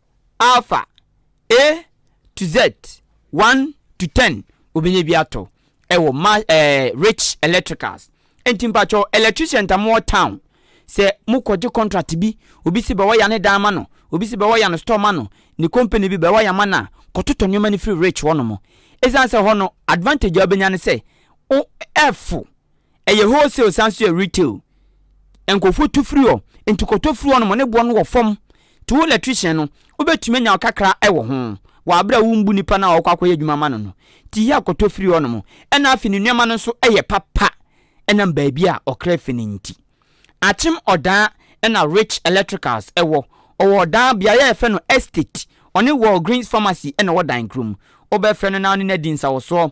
Alpha, A to Z, one to ten wobɛnya bi atɔ ɛwɔ ma ɛɛ eh, rich electricals nti mpatsɔ electrician ta mo wɔ town sɛ mo kɔgye contract bi obi si bɛwɔ ya ne dan ma no obi si bɛwɔ ya no store ma no ne company bi bɛwɔ ya ma no a kɔtotɔ nneɛma no firi rich hɔ nom ɛsiane sɛ hɔ no advantage a wobɛnya ne sɛ ɛfo Ɛyɛ wholesale san so yɛ retail. Nkorɔfoɔ tu firi hɔ. Nti kɔtɔ firi hɔnom ne boɔ no wɔ fam. Nti wo electrician no wobɛtumi anya wo kakra wɔ ho wɔ aberɛ a wombu nipa no a ɔɔkɔ akɔyɛ adwuma ama no no. Nti yɛ a kɔtɔ firi hɔnom. Ɛna afei ne nneɛma no nso yɛ papa ɛnam baabi a ɔkra firi no nti. Akyem Ɔdaa ɛna Rich Electricals wɔ. Ɔwɔ Ɔdaa beaeɛ a yɛfrɛ no Estate. Ɔne Walgreens Pharmacy ɛna ɛwɔ Daenkrom. Wobɛfrɛ no na wone no adi nsawosoɔ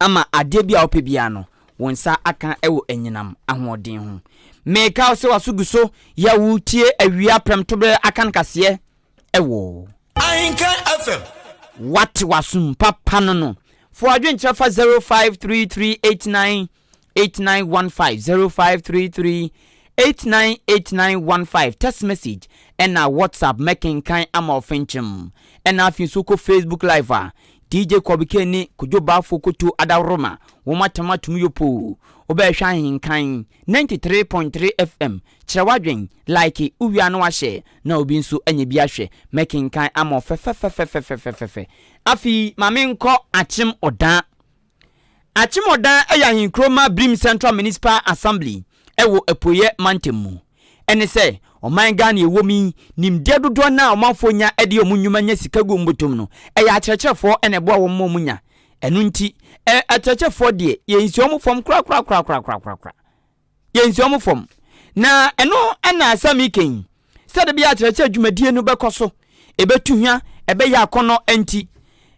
ama adeɛ biara a wopɛ biara no, wo nsa aka wɔ anyinam ahoɔden ho. Meka wo sɛ w'aso gu so yɛ wo tie awia prɛmtoberɛ akankaseɛ wɔ. Ahenka FM. Wate w'asom papa no no. Fa w'adwenkyerɛ fa zero five three three eight nine eight nine one five zero five three three eight nine eight nine one five text message ɛna whatsapp mɛkenkan ama ɔfenkyem ɛna afei nso kɔ facebook live a dj kɔbike ne kodwo baafo koto adaworoma wɔn atam atum yɛ poo wobɛhwɛ ahenkan ninety three point three fm kyerɛ wadwen like wowia no wahyɛ na obi nso anya bi ahwɛ mɛkenkan ama ɔfɛfɛfɛfɛfɛfɛfɛfɛ afei maame nkɔ akyem ɔdan Akyemmɔdan yɛ ahenkuro ma Birim Central Municipal Assembly wɔ Apueɛ Mantam mu. Ɛne sɛ, ɔman Ghana a ɛwɔ mu yi, nimdeɛ dodoɔ no ara a ɔmanfoɔ nya de yɛ wɔn nnwuma nya sika gu wɔn bɔtɔm no, ɛyɛ akyerɛkyerɛfoɔ na ɛboa wɔn ma wɔn nya. Ɛno nti, akyerɛkyerɛfoɔ deɛ, yɛnsi wɔn fam korakorakorakorakorakorakora. yɛnsi wɔn fam. Na ɛno na asɛm yi ka yi, sɛ da bi a akyerɛkyerɛ dwumadie no bɛkɔ so, ɛbɛtu hwa, ɛbɛyɛ akɔnnɔ nti,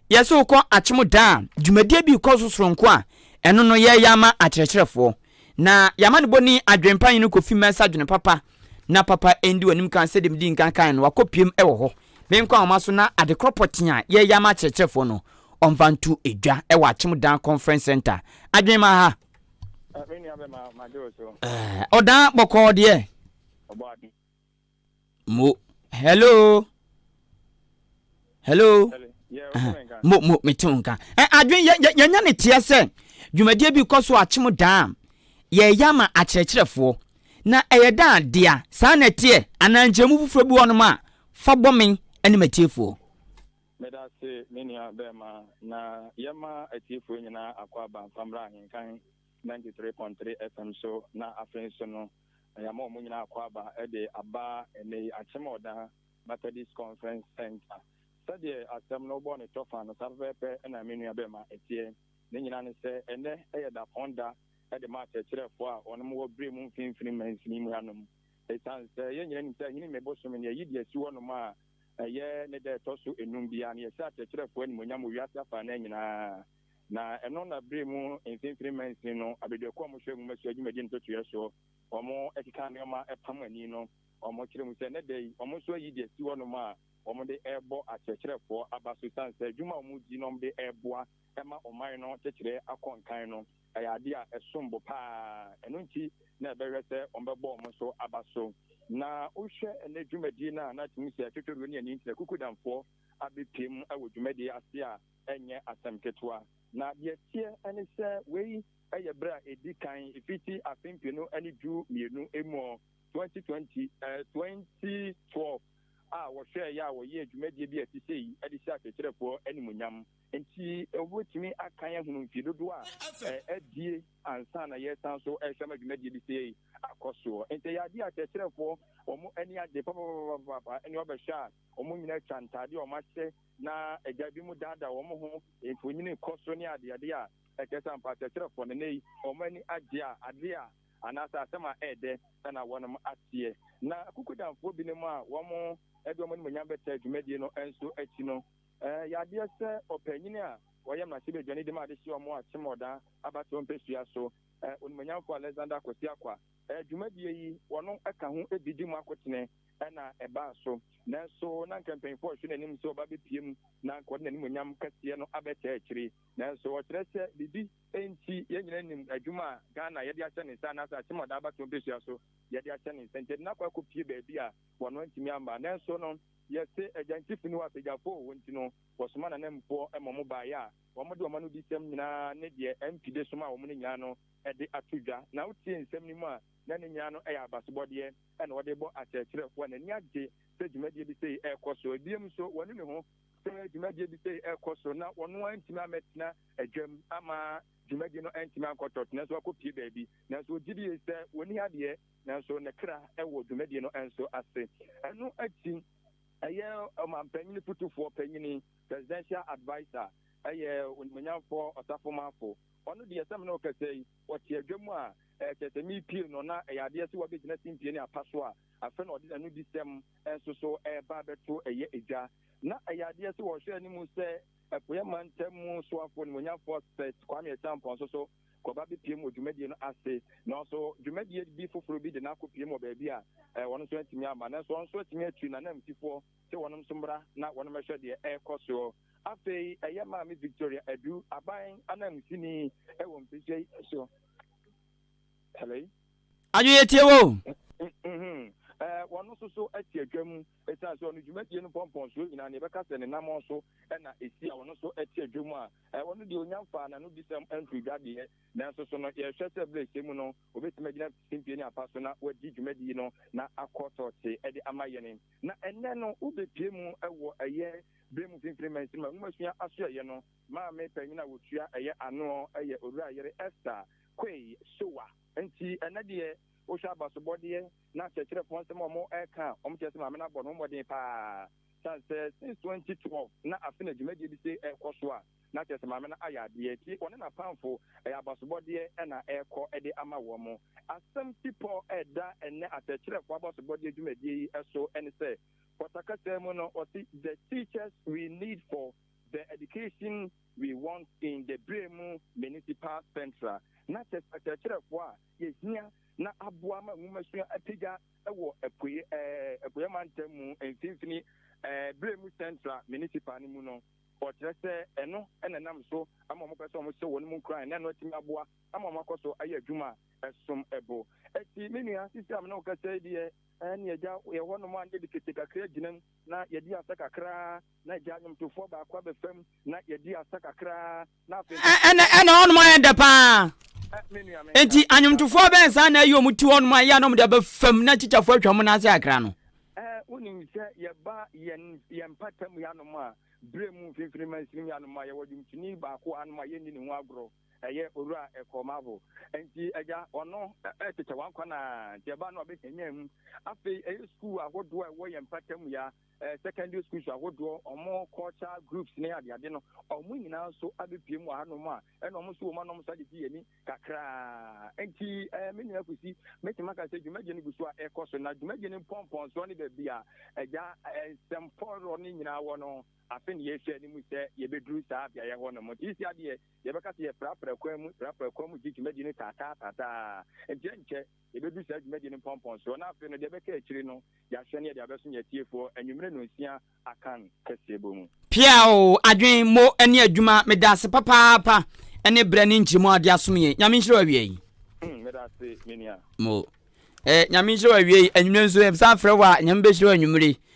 yɛsɛ wokɔ akyem da a dwumadie bi rekɔ so soronko a, ɛno no yɛyɛ ama akyerɛkyerɛfoɔ. Na yɛama no bɔni adwempa yi no kɔfi mɛnsa adwene papa na papa ɛndi w'anim kan sɛdeɛ medi nkan kan no wakɔpiem wɔ hɔ menkɔ ahoma so na adekorɔ pɔtee a yɛyɛ ama akyerɛkyerɛfoɔ no ɔmfa nto edwa wɔ akyem dan conference center adwene ma ha ɔdan bɔkɔɔ deɛ mo hello hello mo mo mete wo nka adwene yɛnya ne teɛ sɛ dwumadie bi kɔ so akyem daa yɛyɛ ama akyerɛkyerɛfoɔ na ɛyɛ daa dea saa na ɛteɛ anaa nkyɛmu foforɔ bi wɔnom a fa bɔ me ne matiefoɔ Meda ase me nua bɛɛma na yɛma atiefoɔ nyinaa akwaaba mfa mmra ahenkan ninety three point three FM so na afei nso no yɛama wɔn nyinaa akwaaba de aba ɛnɛ yi Akyemɔɔdan Methodist Conference Centre sɛdeɛ asɛm no wobɔɔ no tɔfa no saa pɛpɛɛpɛ na me nua bɛɛma ɛteɛ ne nyinaa ne sɛ ɛnɛ yɛ dapɔn da de ma akyerɛkyerɛfoɔ a wɔnom wɔ berɛ mu mfimfini mansini mu hanom ɛsiane sɛ yɛn nyinaa nim sɛ Ahinime bosome no yɛyi de asi hɔnom a Ɛyɛ ne da a ɛtɔ so nnum biara no, yɛhyɛ akyerɛkyerɛfo animuonyam wɔ wiase afanan nyinaa, na ɛno na bere mu mfinimfini mansin no abadiakuw a wɔhwɛ nhomasua dwumadi ntotoeɛ so a wɔkeka nneɛma pam ani no kyerɛ mu sɛ ɛnnɛ da yi wɔn nso ayi de asi hɔnom a wɔde rebɔ akyerɛkyerɛfo aba so esiane sɛ adwuma a wɔredi na wɔde reboa ma ɔman no kyekyeree akɔ nkan no Ɛyɛ ade a ɛsom bo paa. Ɛno nti na yɛbɛhwɛ sɛ wɔbɛbɔ wɔn nso aba so. Na wohwɛ ɛnnɛ dwumadie no a, na tumi sɛ Totoroo ne Ani Ntina Kukudamfoɔ abɛpue mu wɔ dwumadie ase a, ɛnyɛ asɛm ketewa. Na deɛ ɛteɛ ne sɛ, wei yɛ berɛ a ɛdi kan fiti afe mpenu ne du mmienu mu hɔ, 2020, ɛɛ 2012, a wɔhwɛeɛ a wɔyɛɛ dwumadie bi a ɛte sei de hyɛɛ akyerɛkyerɛfoɔ animuonyam. Enti wobɛtumi akan ahunu mfie dodoɔ a adie ansa na yɛresan so rehwɛ ma dwumadie bi sei akɔ soɔ. Enti ɛyɛ adeɛ a kyerɛkyerɛfoɔ wɔn ani agye papapapapaapa ne wɔbɛhwɛ a wɔn nyinaa atwa ntaadeɛ a wɔahyɛ na agya bi mu daadaa wɔn ho, mfonini kɔ so ne adeade a ɛkyerɛ sɛ ampa kyerɛkyerɛfoɔ no nnɛ yi wɔn ani agye a adeɛ a anaasɛ asɛm a ɛyɛ dɛ na wɔnom ateɛ. Na Kukudanfoɔ binom a wɔn de wɔn animuonyam bɛtaa dwumadie no nso akyi no, Ɛɛ yadeɛ sɛ ɔpanyini a ɔyɛ mmarahyɛbadwani de ma adehyeɛ ɔmo a kyem ɔda abatoɔ mpɛsua so ɛ Onimonyamfoɔ Alexander Kwasi Akwa ɛ dwumadie yi wɔno ɛka ho ɛbi di mu akotene ɛna ɛbaa so nanso na nka mpanyinfoɔ rehwɛ n'anim sɛ ɔba bɛpue mu na nka ɔde n'animonyam kɛseɛ no abɛkyɛ akyiri nanso ɔkyerɛ sɛ biribi ɛnti yɛn nyinaa nim adwuma a Ghana yɛde ahyɛ ne nsa anaasɛ akyem ɔda abatoɔ mpɛsua so yɛde ahyɛ ne nsa nti ɛde no akɔ akɔ pue baabi a wɔno antumi amma nanso no Yɛse Agyansifi no apagyafo o, nti no wɔsoma n'ananmufoɔ ma wɔn baeɛ a wɔde wɔn anodisɛm nyinaa ne deɛ MP de somaa wɔn no nyinaa no de ato dwa. Na wotie nsɛm no mu a, na ne nyinaa no yɛ abasobɔdeɛ na wɔde rebɔ akyerɛkyerɛ. Wɔn ani agye sɛ dwumadie bi sei rekɔ so. Bio nso, wɔanu ne ho sɛ dwumadie bi sei rekɔ so na ɔno ara ntumi ammɛtena dwam amma dwumadie no antumi ankɔtɔt nanso wakɔpue baabi. Nanso wɔgye die sɛ wɔnni adeɛ. nanso ne kra wɔ dwumadie no nso ase. Ɛno akyi, ɛyɛ ɔmanpanyin fotufoɔ panyin, presidential adviser, ɛyɛ onimuonyamfoɔ ɔsafomanfo. Ɔno deɛ sɛ me ne wo kasa yi, ɔte adwa mu a, kyerɛ sɛ mepie no na ɛyɛ adeɛ sɛ wabɛgyina simpie ne apa so a, afei na ɔde n'anodisɛm nso so reba abɛto ɛyɛ edwa. Na ɛyɛ adeɛ sɛ ɔhwɛ anim sɛ Apueɛ Mantam mu soafoɔ, onimuonyamfoɔ Seth Kwame Acheampong nso so, kɔba abɛpiem wɔ dwumadie no ase. Nanso dwumadie bi foforɔ bi de no akɔpiem wɔ baabi a wɔn nso antumi amma. Nanso wɔn nso atumi atu n'ananmusifoɔ sɛ wɔnom nso mmra na wɔnom mmɛhwɛ deɛ ɛrekɔ soɔ. Afei ɛyɛ Maame Victoria Adu, aban ananmusini wɔ Mpesua yi so. Hello? Adwoyɛ tie wo! Wɔn nso so te adwa mu. Esiane sɛ ɔno dwumadie no mpɔmpɔnsoɔ nyinaa no, yɛbɛka sɛ ne namɔn so na ɛsi a ɔno nso te adwam a, ɔno deɛ ɔnya mfaa n'anodisɛm nto dwa deɛ, nanso so no yɛhwɛ sɛ berɛ a ɛsɛ mu no, ɔbɛtumi agyina simpie ne apa so na wadi dwumadie no na akɔ tɔɔtee de ama yɛn. Na ɛnnɛ no, wobɛpue mu wɔ ɛyɛ berɛ mu mfimfini mansini nwomasua asoɛeɛ no, maame panin a ɔtua ɛyɛ ano yɛ Owura Ayere Esther Quay Sowa. Enti ɛnnɛ deɛ, wohwɛ abasobɔdeɛ na Kyerɛkyerɛfoɔ nsɛm a wɔka a wɔkyerɛ sɛ Maame no abɔ ne ho mmɔden pa ara. Ɛsiane sɛ since 2012 na afe na dwumadie bi sei rekɔ so a, na kyerɛ sɛ Maame no ayɛ adeɛ, enti ɔne n'apamfo, ɛyɛ abasobɔdeɛ na ɛrekɔ de ama wɔn. Asɛm tipɔ a ɛda ɛnnɛ Akyerɛkyerɛfoɔ Abasobɔdeɛ dwumadie yi so ne sɛ, Pɔta kasa mu no, wɔse, The teachers we need for the education we want in the Beremu Municipal Central, na kyerɛ sɛ akyerɛkyerɛfoɔ a yehia na aboa ma nwomasua apagya wɔ Apueɛ Mantam mu Mfinfini Berɛ mu Central Municipal no mu no, ɔkyerɛ sɛ ɛno na ɛnam so ama wɔpɛ sɛ wɔhyɛ wɔn mu nkuran na ɛno atumi aboa ama wɔakɔ so ayɛ adwuma a ɛsom bo. Enti me nua sisi a me ne wo kasa yi deɛ, ɛnneɛ agya yɛ hɔnom a na yɛde kete kakra gyina mu na yɛde asa kakra na agya nnwomtofoɔ baako abɛfa mu na yɛde asa kakra. ɛna ɛna ɔnom ayɛ dɛ paa nti anwomtofoɔ bɛn saa na ɛyɛ ɔmo ti hɔ nom a ɛyɛ a na ɔmo de abɛ fam na tikyafoɔ atwa ɔmo n'ase akra no. ɛɛ wonim sɛ yɛba yɛn yɛn mpata mu yanom a bere mu mfimfini mansin yanom a yɛwɔ dwomtoni baako anom a yɛnni ne ho agorɔ ɛyɛ owura ɛkɔmafo nti agya ɔno ɛkyekyɛ wankwa na nti ɛba no abɛhɛnya mu afei ɛyɛ sukuu ahodoɔ a ɛwɔ yɛn mpata mu ya eh, secondary schools ahodoɔ ɔmo culture groups ne adeade no ɔmo nyinaa nso abɛpie mu ahanom a ɛna ɔmo nso wɔ mu a na ɔmo sa de gye yɛn ani kakraa nti eh, me nua kusi mɛtumi aka sɛ dwumadie no gu so a ɛkɔ so na dwumadie no mpɔmpɔnsoɔ ne baabi a agya eh, nsɛm pɔrɔ no nyinaa wɔ no afe ne yɛhwɛ no mu sɛ yɛbɛduru saa beaeɛ hɔ no mu nti si adeɛ yɛbɛka sɛ yɛprapra kwan mu prapra kwan mu gye dwumadie no taataa taataa nkyɛ nkyɛ Yɛbɛdu saa dwumadie no mpɔmpɔnsoɔ na afei no deɛ ɛbɛka akyiri no yɛahwɛ ne yɛde abɛso yɛn atiefoɔ anwummere nnɔnsia akan kɛseɛ bɔ mu. Pia o, adwen, mo, ne adwuma, medaase papaapa ne berɛ ne nkyeremu a wode asom yɛn. Nyame nhyira wo awia yi. Mm, medaase, menua. Mo. Eh, nyame nhyira wo awia yi, anwummere nso, yɛbɛsan frɛ wo a, nyame bɛhyira wo anwummere.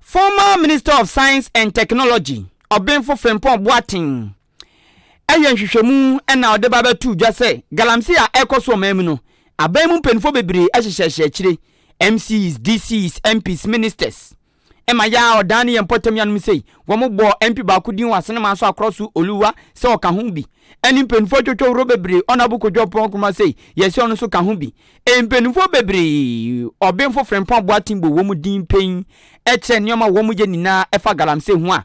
Former Minister of Science and Technology, Ɔbenfo Frimpong Boateng, ayɛ nhwehwɛmu na ɔde ba abɛto dwa sɛ galamsey a ɛrekɔ so ɔman mu no, aban mu mpanyimfo bebree ahyehyɛhyɛ akyire, MCs, DCs, MPs, Ministers. Ɛma yɛ a ɔdan ne yɛn mpɔtam nuanom sei. Wɔbɔɔ MP baako din wɔ Asenema nso Akorasu Oluwa sɛ ɔka ho bi. Ɛne mpanyimfo atwotwo horow bebree, Honourable Kojo Oppong Nkrumah sei, yɛse ɔno nso ka ho bi. Mpaninfoɔ bebree, ɔbenfo Frimpong Boateng bɔ wɔn din pɛn kyerɛ nneɛma a wɔyɛ nyinaa ɛfa galamsey ho a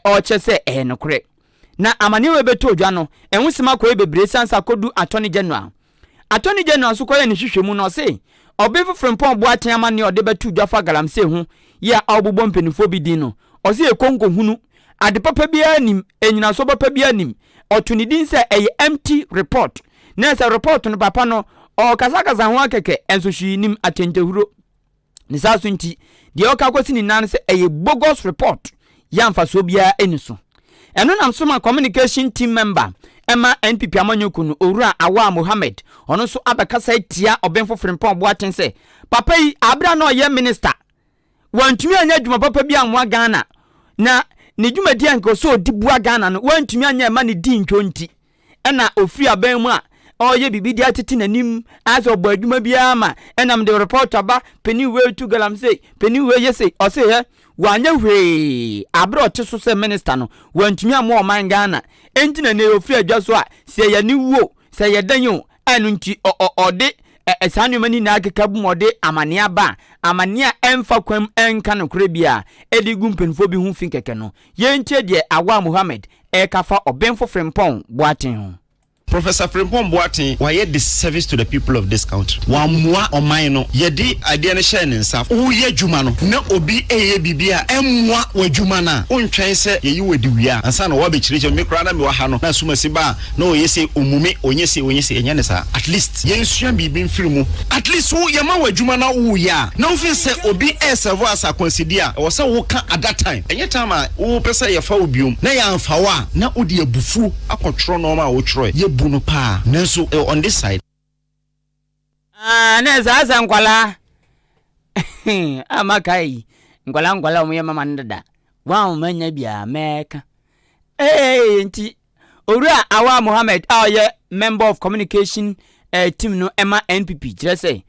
ɔkyerɛ sɛ ɛyɛ nokorɛ. Na amaneɛ wei bɛtɔɔ dwa no, nwosɛm akɔyɛ bebree siane sɛ akɔduru Attorney General. Attorney General nso kɔyɛɛ ne nhwehwɛmu na ɔse ɔbenfo Frimpong Boateng amaneɛ a ɔde bɛtoo dwa fa galamsey ho yɛ a ɔrebobɔ mpaninfoɔ bi din no, ɔse yɛ konkohunu, ade papa biara nnim, nnyinasoɔ papa biara nnim. Ɔtoo ne din sɛ ɛyɛ empty report. na sɛ report no papa no ɔɔkasakasa ho ara kɛkɛ nso hwee nim atɛntɛhuro ne saa so nti deɛ ɔka kɔsi ne nan sɛ ɛyɛ bogus report yɛ amfasoɔ biara ɛni so ɛno nam so ma communication team member ɛma NPP amanyɔku no owura Awaa Mohammed ɔno nso abɛkasa atia Ɔbenfo Frimpong Boateng sɛ papa yi abera na ɔyɛ minister wantumi anyɛ adwuma papa bi ammoa Ghana na ne dwumadi a nka ɔsɛ ɔdi boa Ghana no wantumi anyɛ ɛma ne di ntwo nti ɛna ɔfiri aban mu a ɔreyɛ biribi de atete n'anim ayɛ sɛ ɔbɔ adwuma biara ma ɛnam de report aba panin wei tu galamsey panin wei yɛ sei ɔse hɛ wanyɛ hwee abere ɔte so sɛ minister no wantumi ammoa ɔman Ghana enti na ne ɔfiri adwa so a sɛ yɛne wuo Sɛ ɛyɛ dɛn o, ɛno nti ɔde saa nneɛma no nyinaa keka bom ɔde amanneɛ aba a, amanneɛ a ɛmfa kwan mu ɛnka nokorɛ biara ɛde gu mpanimfoɔ bi ho fi kɛkɛ no. Yɛntie deɛ Awaa Mohammed ɛreka fa Ɔbenfo Frimpong Boateng ho. Professor Frimpong Boateng, wayɛ disservice to the people of this country. Wammua ɔman no. Yɛde adeɛ no hyɛɛ ne nsa. Woreyɛ adwuma no na obi reyɛ biribi a ɛmmoa w'adwuma no a, wontwɛn sɛ yɛyi wo adi wie a, ansa na woabɛkyerɛkyerɛ. Me koraa na mewɔ ha no, na asumasi baa na ɔyɛ se ɔmumi ɔnyɛ se ɔnyɛ se ɛnyɛ ne saa at least yɛnsua biribi mfiri mu at least wo yɛma wo adwuma na woyɛ a na wofeel sɛ obi ɛɛsɛvo as akwansideɛ a ɛwɔ sɛ woka at that time ɛnyɛ time a wopɛ sɛ yɛfa wo biom na yɛanfa wo a na wode abufuo akɔtwerɛ nɔɔma a wotwerɛɛ yɛbu no paa nanso on this side. Ah na saa sa nkwalaa a maka yi nkwalaa nkwalaa wɔn yɛ mama no dada wɔn a wɔn anya biara mɛka ee nti owura awa mohammed a ɔyɛ member of communication eh, team no ɛma npp kyerɛ sɛ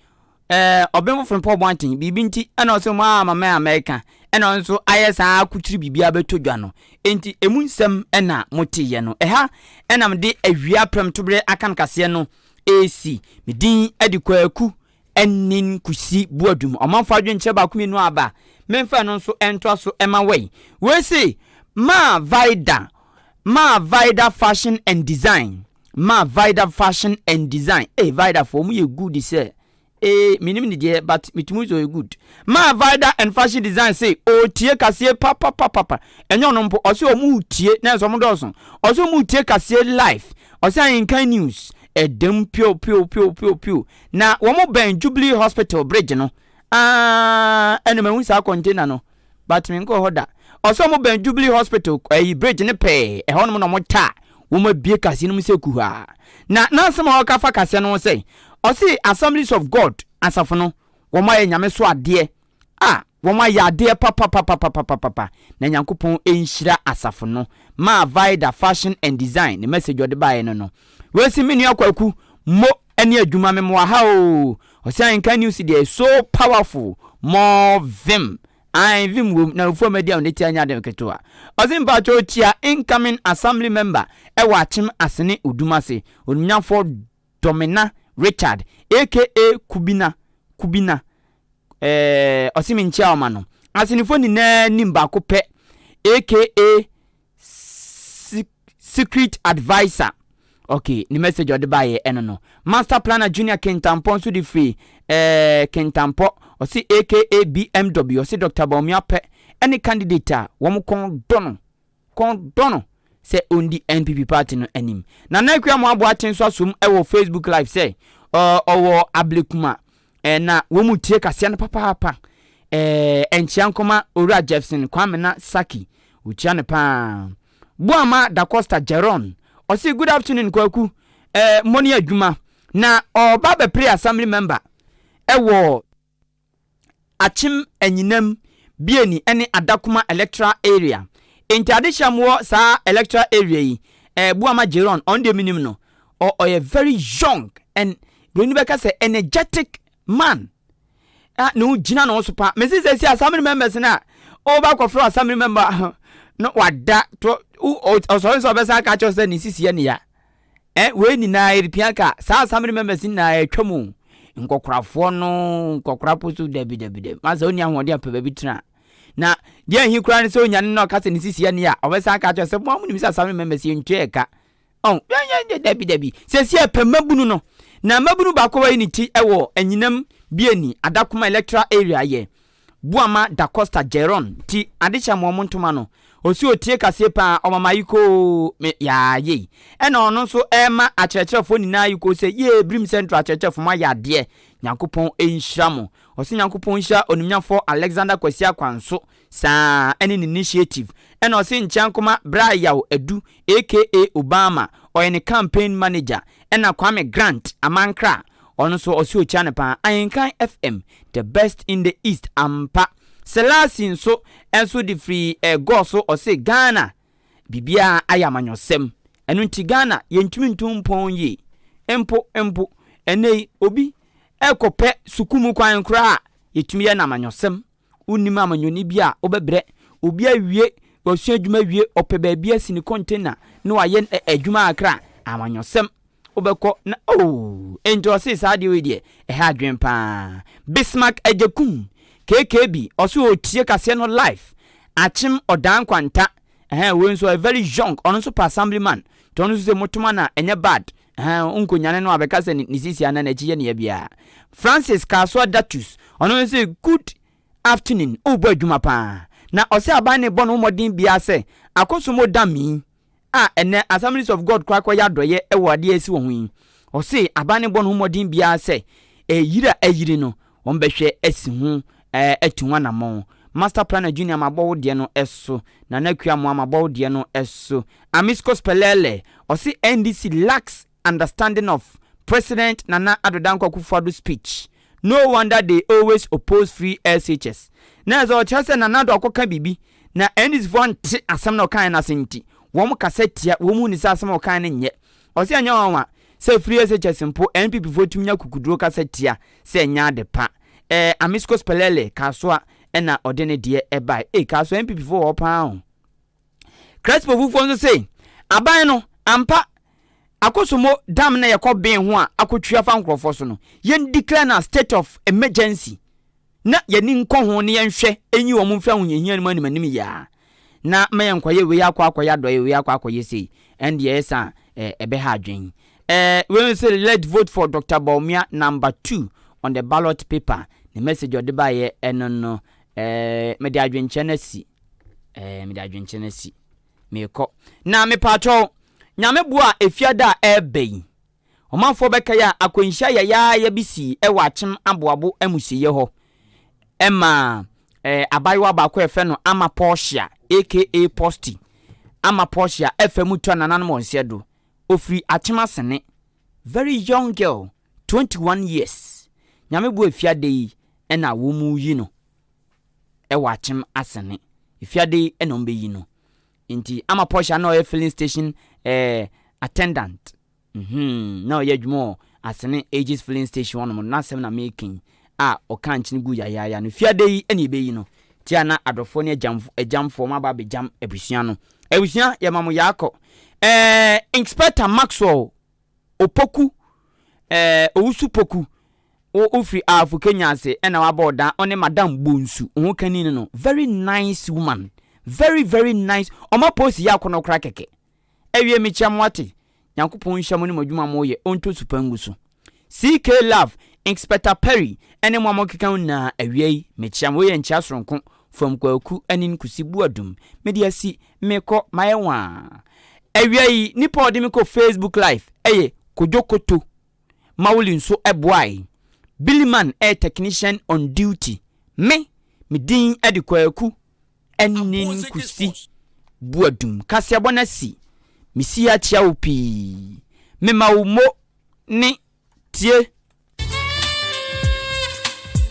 eh, ɔbɛn foforo mpɔ ɔbɔn aten biribi nti ɛna ɔsɛ wɔn a mama a mɛka ɛna ɔno nso ayɛ saa akokyiri biribi abɛtɔ dwa no nti emu nsɛm ɛna moteyɛ no ɛha ɛnam de awia prɛm toberɛ aka no kaseɛ no AC, me din de Kwaku Anin Kusi Boadum. Ɔmanfo adwenkyerɛ baako mmienu a aba a, memfa ɛno nso ntoa so ma wei. Wei se, Maa Vida, Maa Vida Fashion and Design, Maa Vida Fashion and Design. Ee, Vidafoɔ, wɔyɛ good sɛ Ee menim ne deɛ but metumi sɛ ɔyɛ good. Maa Vida and Fashion Design se ɔretie kaseɛ papapapapa. Ɛnyɛ ɔno mpo, ɔse ɔmo retie nanso ɔmo dɔɔso. Ɔse ɔmo retie kaseɛ live. Ɔse Ahenkan News ɛda mu piopiopiopio. Na wɔbɛn Jubilee Hospital bridge no. Aah ɛna mahu saa container no. but me nkɔɔ hɔ da. Ɔsɛ ɔmo bɛn Jubilee hospital ɛyi bridge no pɛɛ, ɛhɔ nom na ɔmo ta a wɔn abue kaseɛ no mu sɛ kuhaa. Na n'asɛm a ɔka fa kaseɛ no ho sɛ, ɔse Assemblies of God asafo no wɔn ayɛ Nyame so adeɛ a wɔn ayɛ adeɛ papapapapapapa na Nyankopɔn nhyira asafo no ma Vida Fashion and Design ne message ɔde baeɛ no no. Wei se me nua Kwaku mo. Ɛne adwuma me moa ha oo. Ɔse anka news deɛ is so powerful more vim ae vim wom na ofuo madi a onetia nyɛ ade ketewa ɔse mpakyɛw kyia incoming assembly member ɛwɔ akyem asene odum ase onimnyamfoɔ Domina Richard aka Kubina Kubina ɛɛ ɔse menkyia ɔma no asenefo nyinaa nim baako pɛ aka secret adviser okay ne message ɔde baeɛ ɛno no master planner junior kentampɔ nso de firi eh, kentampɔ ɔse aka bmw ɔse dr baomi apɛ ɛne candidate a wɔn kɔn dɔ no kɔn dɔ no sɛ ɔndi npp party no anim na na akua mo aboa kye nso asom ɛwɔ facebook live sɛ ɔwɔ ablekuma Ɛɛ, na wɔn mu tie kaseɛ no papaapa. Ɛɛ, ɛnkyea nkɔma Owura Jefferson Kwamena Saki. Wɔkyia no pa ara. Boama Da Costa Jeron, ɔse, Good afternoon, Kwaku. Ɛɛ, mmɔ ne adwuma. Na ɔreba abɛpere Assembly Member wɔ Akyem Anyinam, Bieni ne Adakuma Electoral Area. Enti adekyerɛ a mowɔ saa Electoral Area yi, ɛɛ, Boama Jeron, ɔno deɛ menim no. or ɔyɛ very young and buroni bɛka sɛ energetic man a na ogyina ne ho so paa mesi sɛ si assembly members no a ɔba kɔfrɛ assembly member ho no wada to ɔsɔre nso ɔbɛsa aka kyerɛ sɛ ne sisi yɛ ne ya eh wei nyinaa eripia ka saa assembly members nyinaa atwa mu nkɔkorafoɔ no nkɔkora po so dabi dabi dabi ma sɛ ɔni ahoɔden apɛ baabi tena na deɛ ahi koraa no sɛ onyane na ɔka sɛ ne sisi yɛ ne ya ɔbɛsa aka kyerɛ sɛ mo amu nim sɛ assembly members yɛntwa ɛka Ɔn, yɛn, dabi, dabi. Seesei yɛpɛ mmabunu no. Na mmabunu baako a wayi ne ti wɔ anyinam biani, Adakoma electoral area, yɛ Boama Dacosta Jeron. Nti, ade hyɛ mo wɔn ntoma no. Ose otie kaseɛ paa, ɔma me ayekoo. Me, yaa, yei. Ɛna ɔno nso rema akyerɛkyerɛfoɔ nyinaa ayekoo sɛ, yee, Birim Central akyerɛkyerɛfoɔ, moayɛ adeɛ. Nyankopɔn nhyira mo. Ɔse Nyankopɔn nhyira onimnyafɔɔ Alexander Kwasi Akwanso, Saa ara ne n'initiative na ɔse nkyɛ nkoma Bra Yaw Adu aka Obama ɔyɛ ne campaign manager ɛna Kwame Grant Amankra ɔno nso ɔse okyia no paa Ahenkan FM the best in the east ampa Selasi nso nso de firi eh gɔɔ so ɔse Ghana biribiara ayɛ amanyɔsɛm ɛno nti Ghana yɛntumi ntu mpɔn yie mpo mpo ɛnnɛ yi obi ɛkɔ pɛ suku mu kwan koraa a yɛtumi yɛ no amanyɔsɛm Wonnim amanyɔni bi a wobɛbrɛ. Obi awie wasua adwuma awie, ɔpɛ baabi asi ne container na wayɛ adwuma kakra a, amanyɔsɛm, wobɛkɔ na oo, enti ɔse saa adeɛ wei deɛ, ɛha adwene pa ara. Bismark Agyekum, KKB, ɔse ɔretie kaseɛ no live, Akyem Ɔdaa Nkwanta, ɛhɛɛ, wei nso ɔyɛ very young, ɔno nso pɛ assembly man, nti ɔno nso se motoma no a, ɛnyɛ bad, Ɛhɛn, wonnkonyane no abɛka sɛ ne sisi anaa n'akyi yɛ ne ya biara. Francis kaa so ada tus. Ɔno nso se, Good afternoon, worebɔ adwuma paa. Na ɔse aban no rebɔ ne ho mmɔden biara sɛ akɔsom odam yi a ɛnnɛ Assemblies of God koraa kɔyɛ adɔeɛ wɔ adeɛ a asi wɔ ho yi. Ɔse aban no rebɔ ne ho mmɔden biara sɛ ɛyiri a ayiri no, wɔbɛhwɛ asi ho atu ho anamɔn. Master Planner Junior mabɔ wo deɛ no so, Nana Akua Amoah mabɔ wo deɛ no so, Amiscos Pɛlɛɛlɛ ɔse NDC lacks understanding of President Nana Addo Dankwa Akufo-Addo speech, no wonder they always oppose free SHS. Na ɛsɛ ɔkyerɛ sɛ Nana Addo akɔka biribi na NDCfoɔ ante asɛm no a ɔkaeɛ no ase nti wɔkasa tia, wɔnhu no sɛ asɛm a ɔkaeɛ no nyɛ Ɔse ɛnyɛ nwanwa sɛ firi SHS mpo NPPfoɔ tumi nya kukuduro kasa tia sɛ ɛnyɛ ade pa. Ɛɛ Amiscos Pɛlɛlɛ Kasoa na ɔde ne deɛ bae. Ei Kasoa NPPfoɔ wɔ hɔ pa ara o. Crespofufoɔ nso se aban no ampa Akosombo Dam no a yɛkɔ bee ho a akɔtwi afa nkorɔfoɔ so no, yɛn declare no as state of emergency. na y'ani nkɔ ho na yɛnhwɛ nyi wɔn mfiri ahohiahia no mu animanim yi ara, na ma yɛnkɔyɛ wei akɔ akɔyɛ adɔeɛ, wei akɔ akɔyɛ sei, ɛndeɛ ɛyɛ saa a, ɛbɛha adwene. Eh, wei nso let vote for Doctor Bawumia number two on the ballot paper, ne message ɔde baeɛ ɛno no, eh, mede adwenkyerɛ no asi, eh, mede adwenkyerɛ no asi, meekɔ. Na mepaakyɛw, Nyame boa a, Efiada a ɛreba yi, Ɔmanfoɔ bɛkae a akwanhyia yayaaya bi sii wɔ Akyem Aboabo amusieɛ hɔ ma abaayewa baako a yɛfrɛ no Ama Portia aka Posti Ama Portia fa mu twa nananom wɔn sɛ do. Ɔfiri Akyem Asene. Very young girl, 21 years. Nyame boa efiade yi na wɔreyi no wɔ Akyem Asene. Efiade yi na wɔbɛyi no. Nti Ama Portia na ɔyɛ filling station eh, attendant. Mhmm na ɔyɛ adwuma wɔ Asene Aegis Filling Station hɔnom no n'asɛm na mereka yi a ɔkaa nkyen guu yayaaya no fiada yi na yɛbɛyi no te a na adɔfoɔ ne agyamfo agyamfoɔ ɔmo aba abɛgyam abusua no abusua yɛma mo yaakɔ ɛɛ Inspector Maxwell Opoku ɛɛ Owusu Poku wo wofiri Aafo Kenya ase ɛna waba ɔdan ɔne Madam Bonsu wo ho kani no no very nice woman very very nice ɔma post yi akɔnɔ koraa kɛkɛ. Awiei mekyia mo ate. Nyankopɔn nhyira mo ne mo adwuma a mo yɛ, ɔntɔ su pa ngu so. CK love, Inxpector Perry ɛne mo a mo keka nyinaa awiei mekyia mo. Wei yɛ nkyia soronko from Kwaku Anin Kusi Buadum. Me de asi, me kɔ, mayɛ waa. Awia yi nipa a ɔde me kɔ Facebook live ɛyɛ Kojo Koto Mawuli nso ɛboae. Billy Man ɛyɛ technician on duty. Me, me din ɛde Kwaku Ɛnne no kusi bu adum. Kaseɛbɔ no asi. Mesi ha kyia wo pii. Mema wo mo ne tie.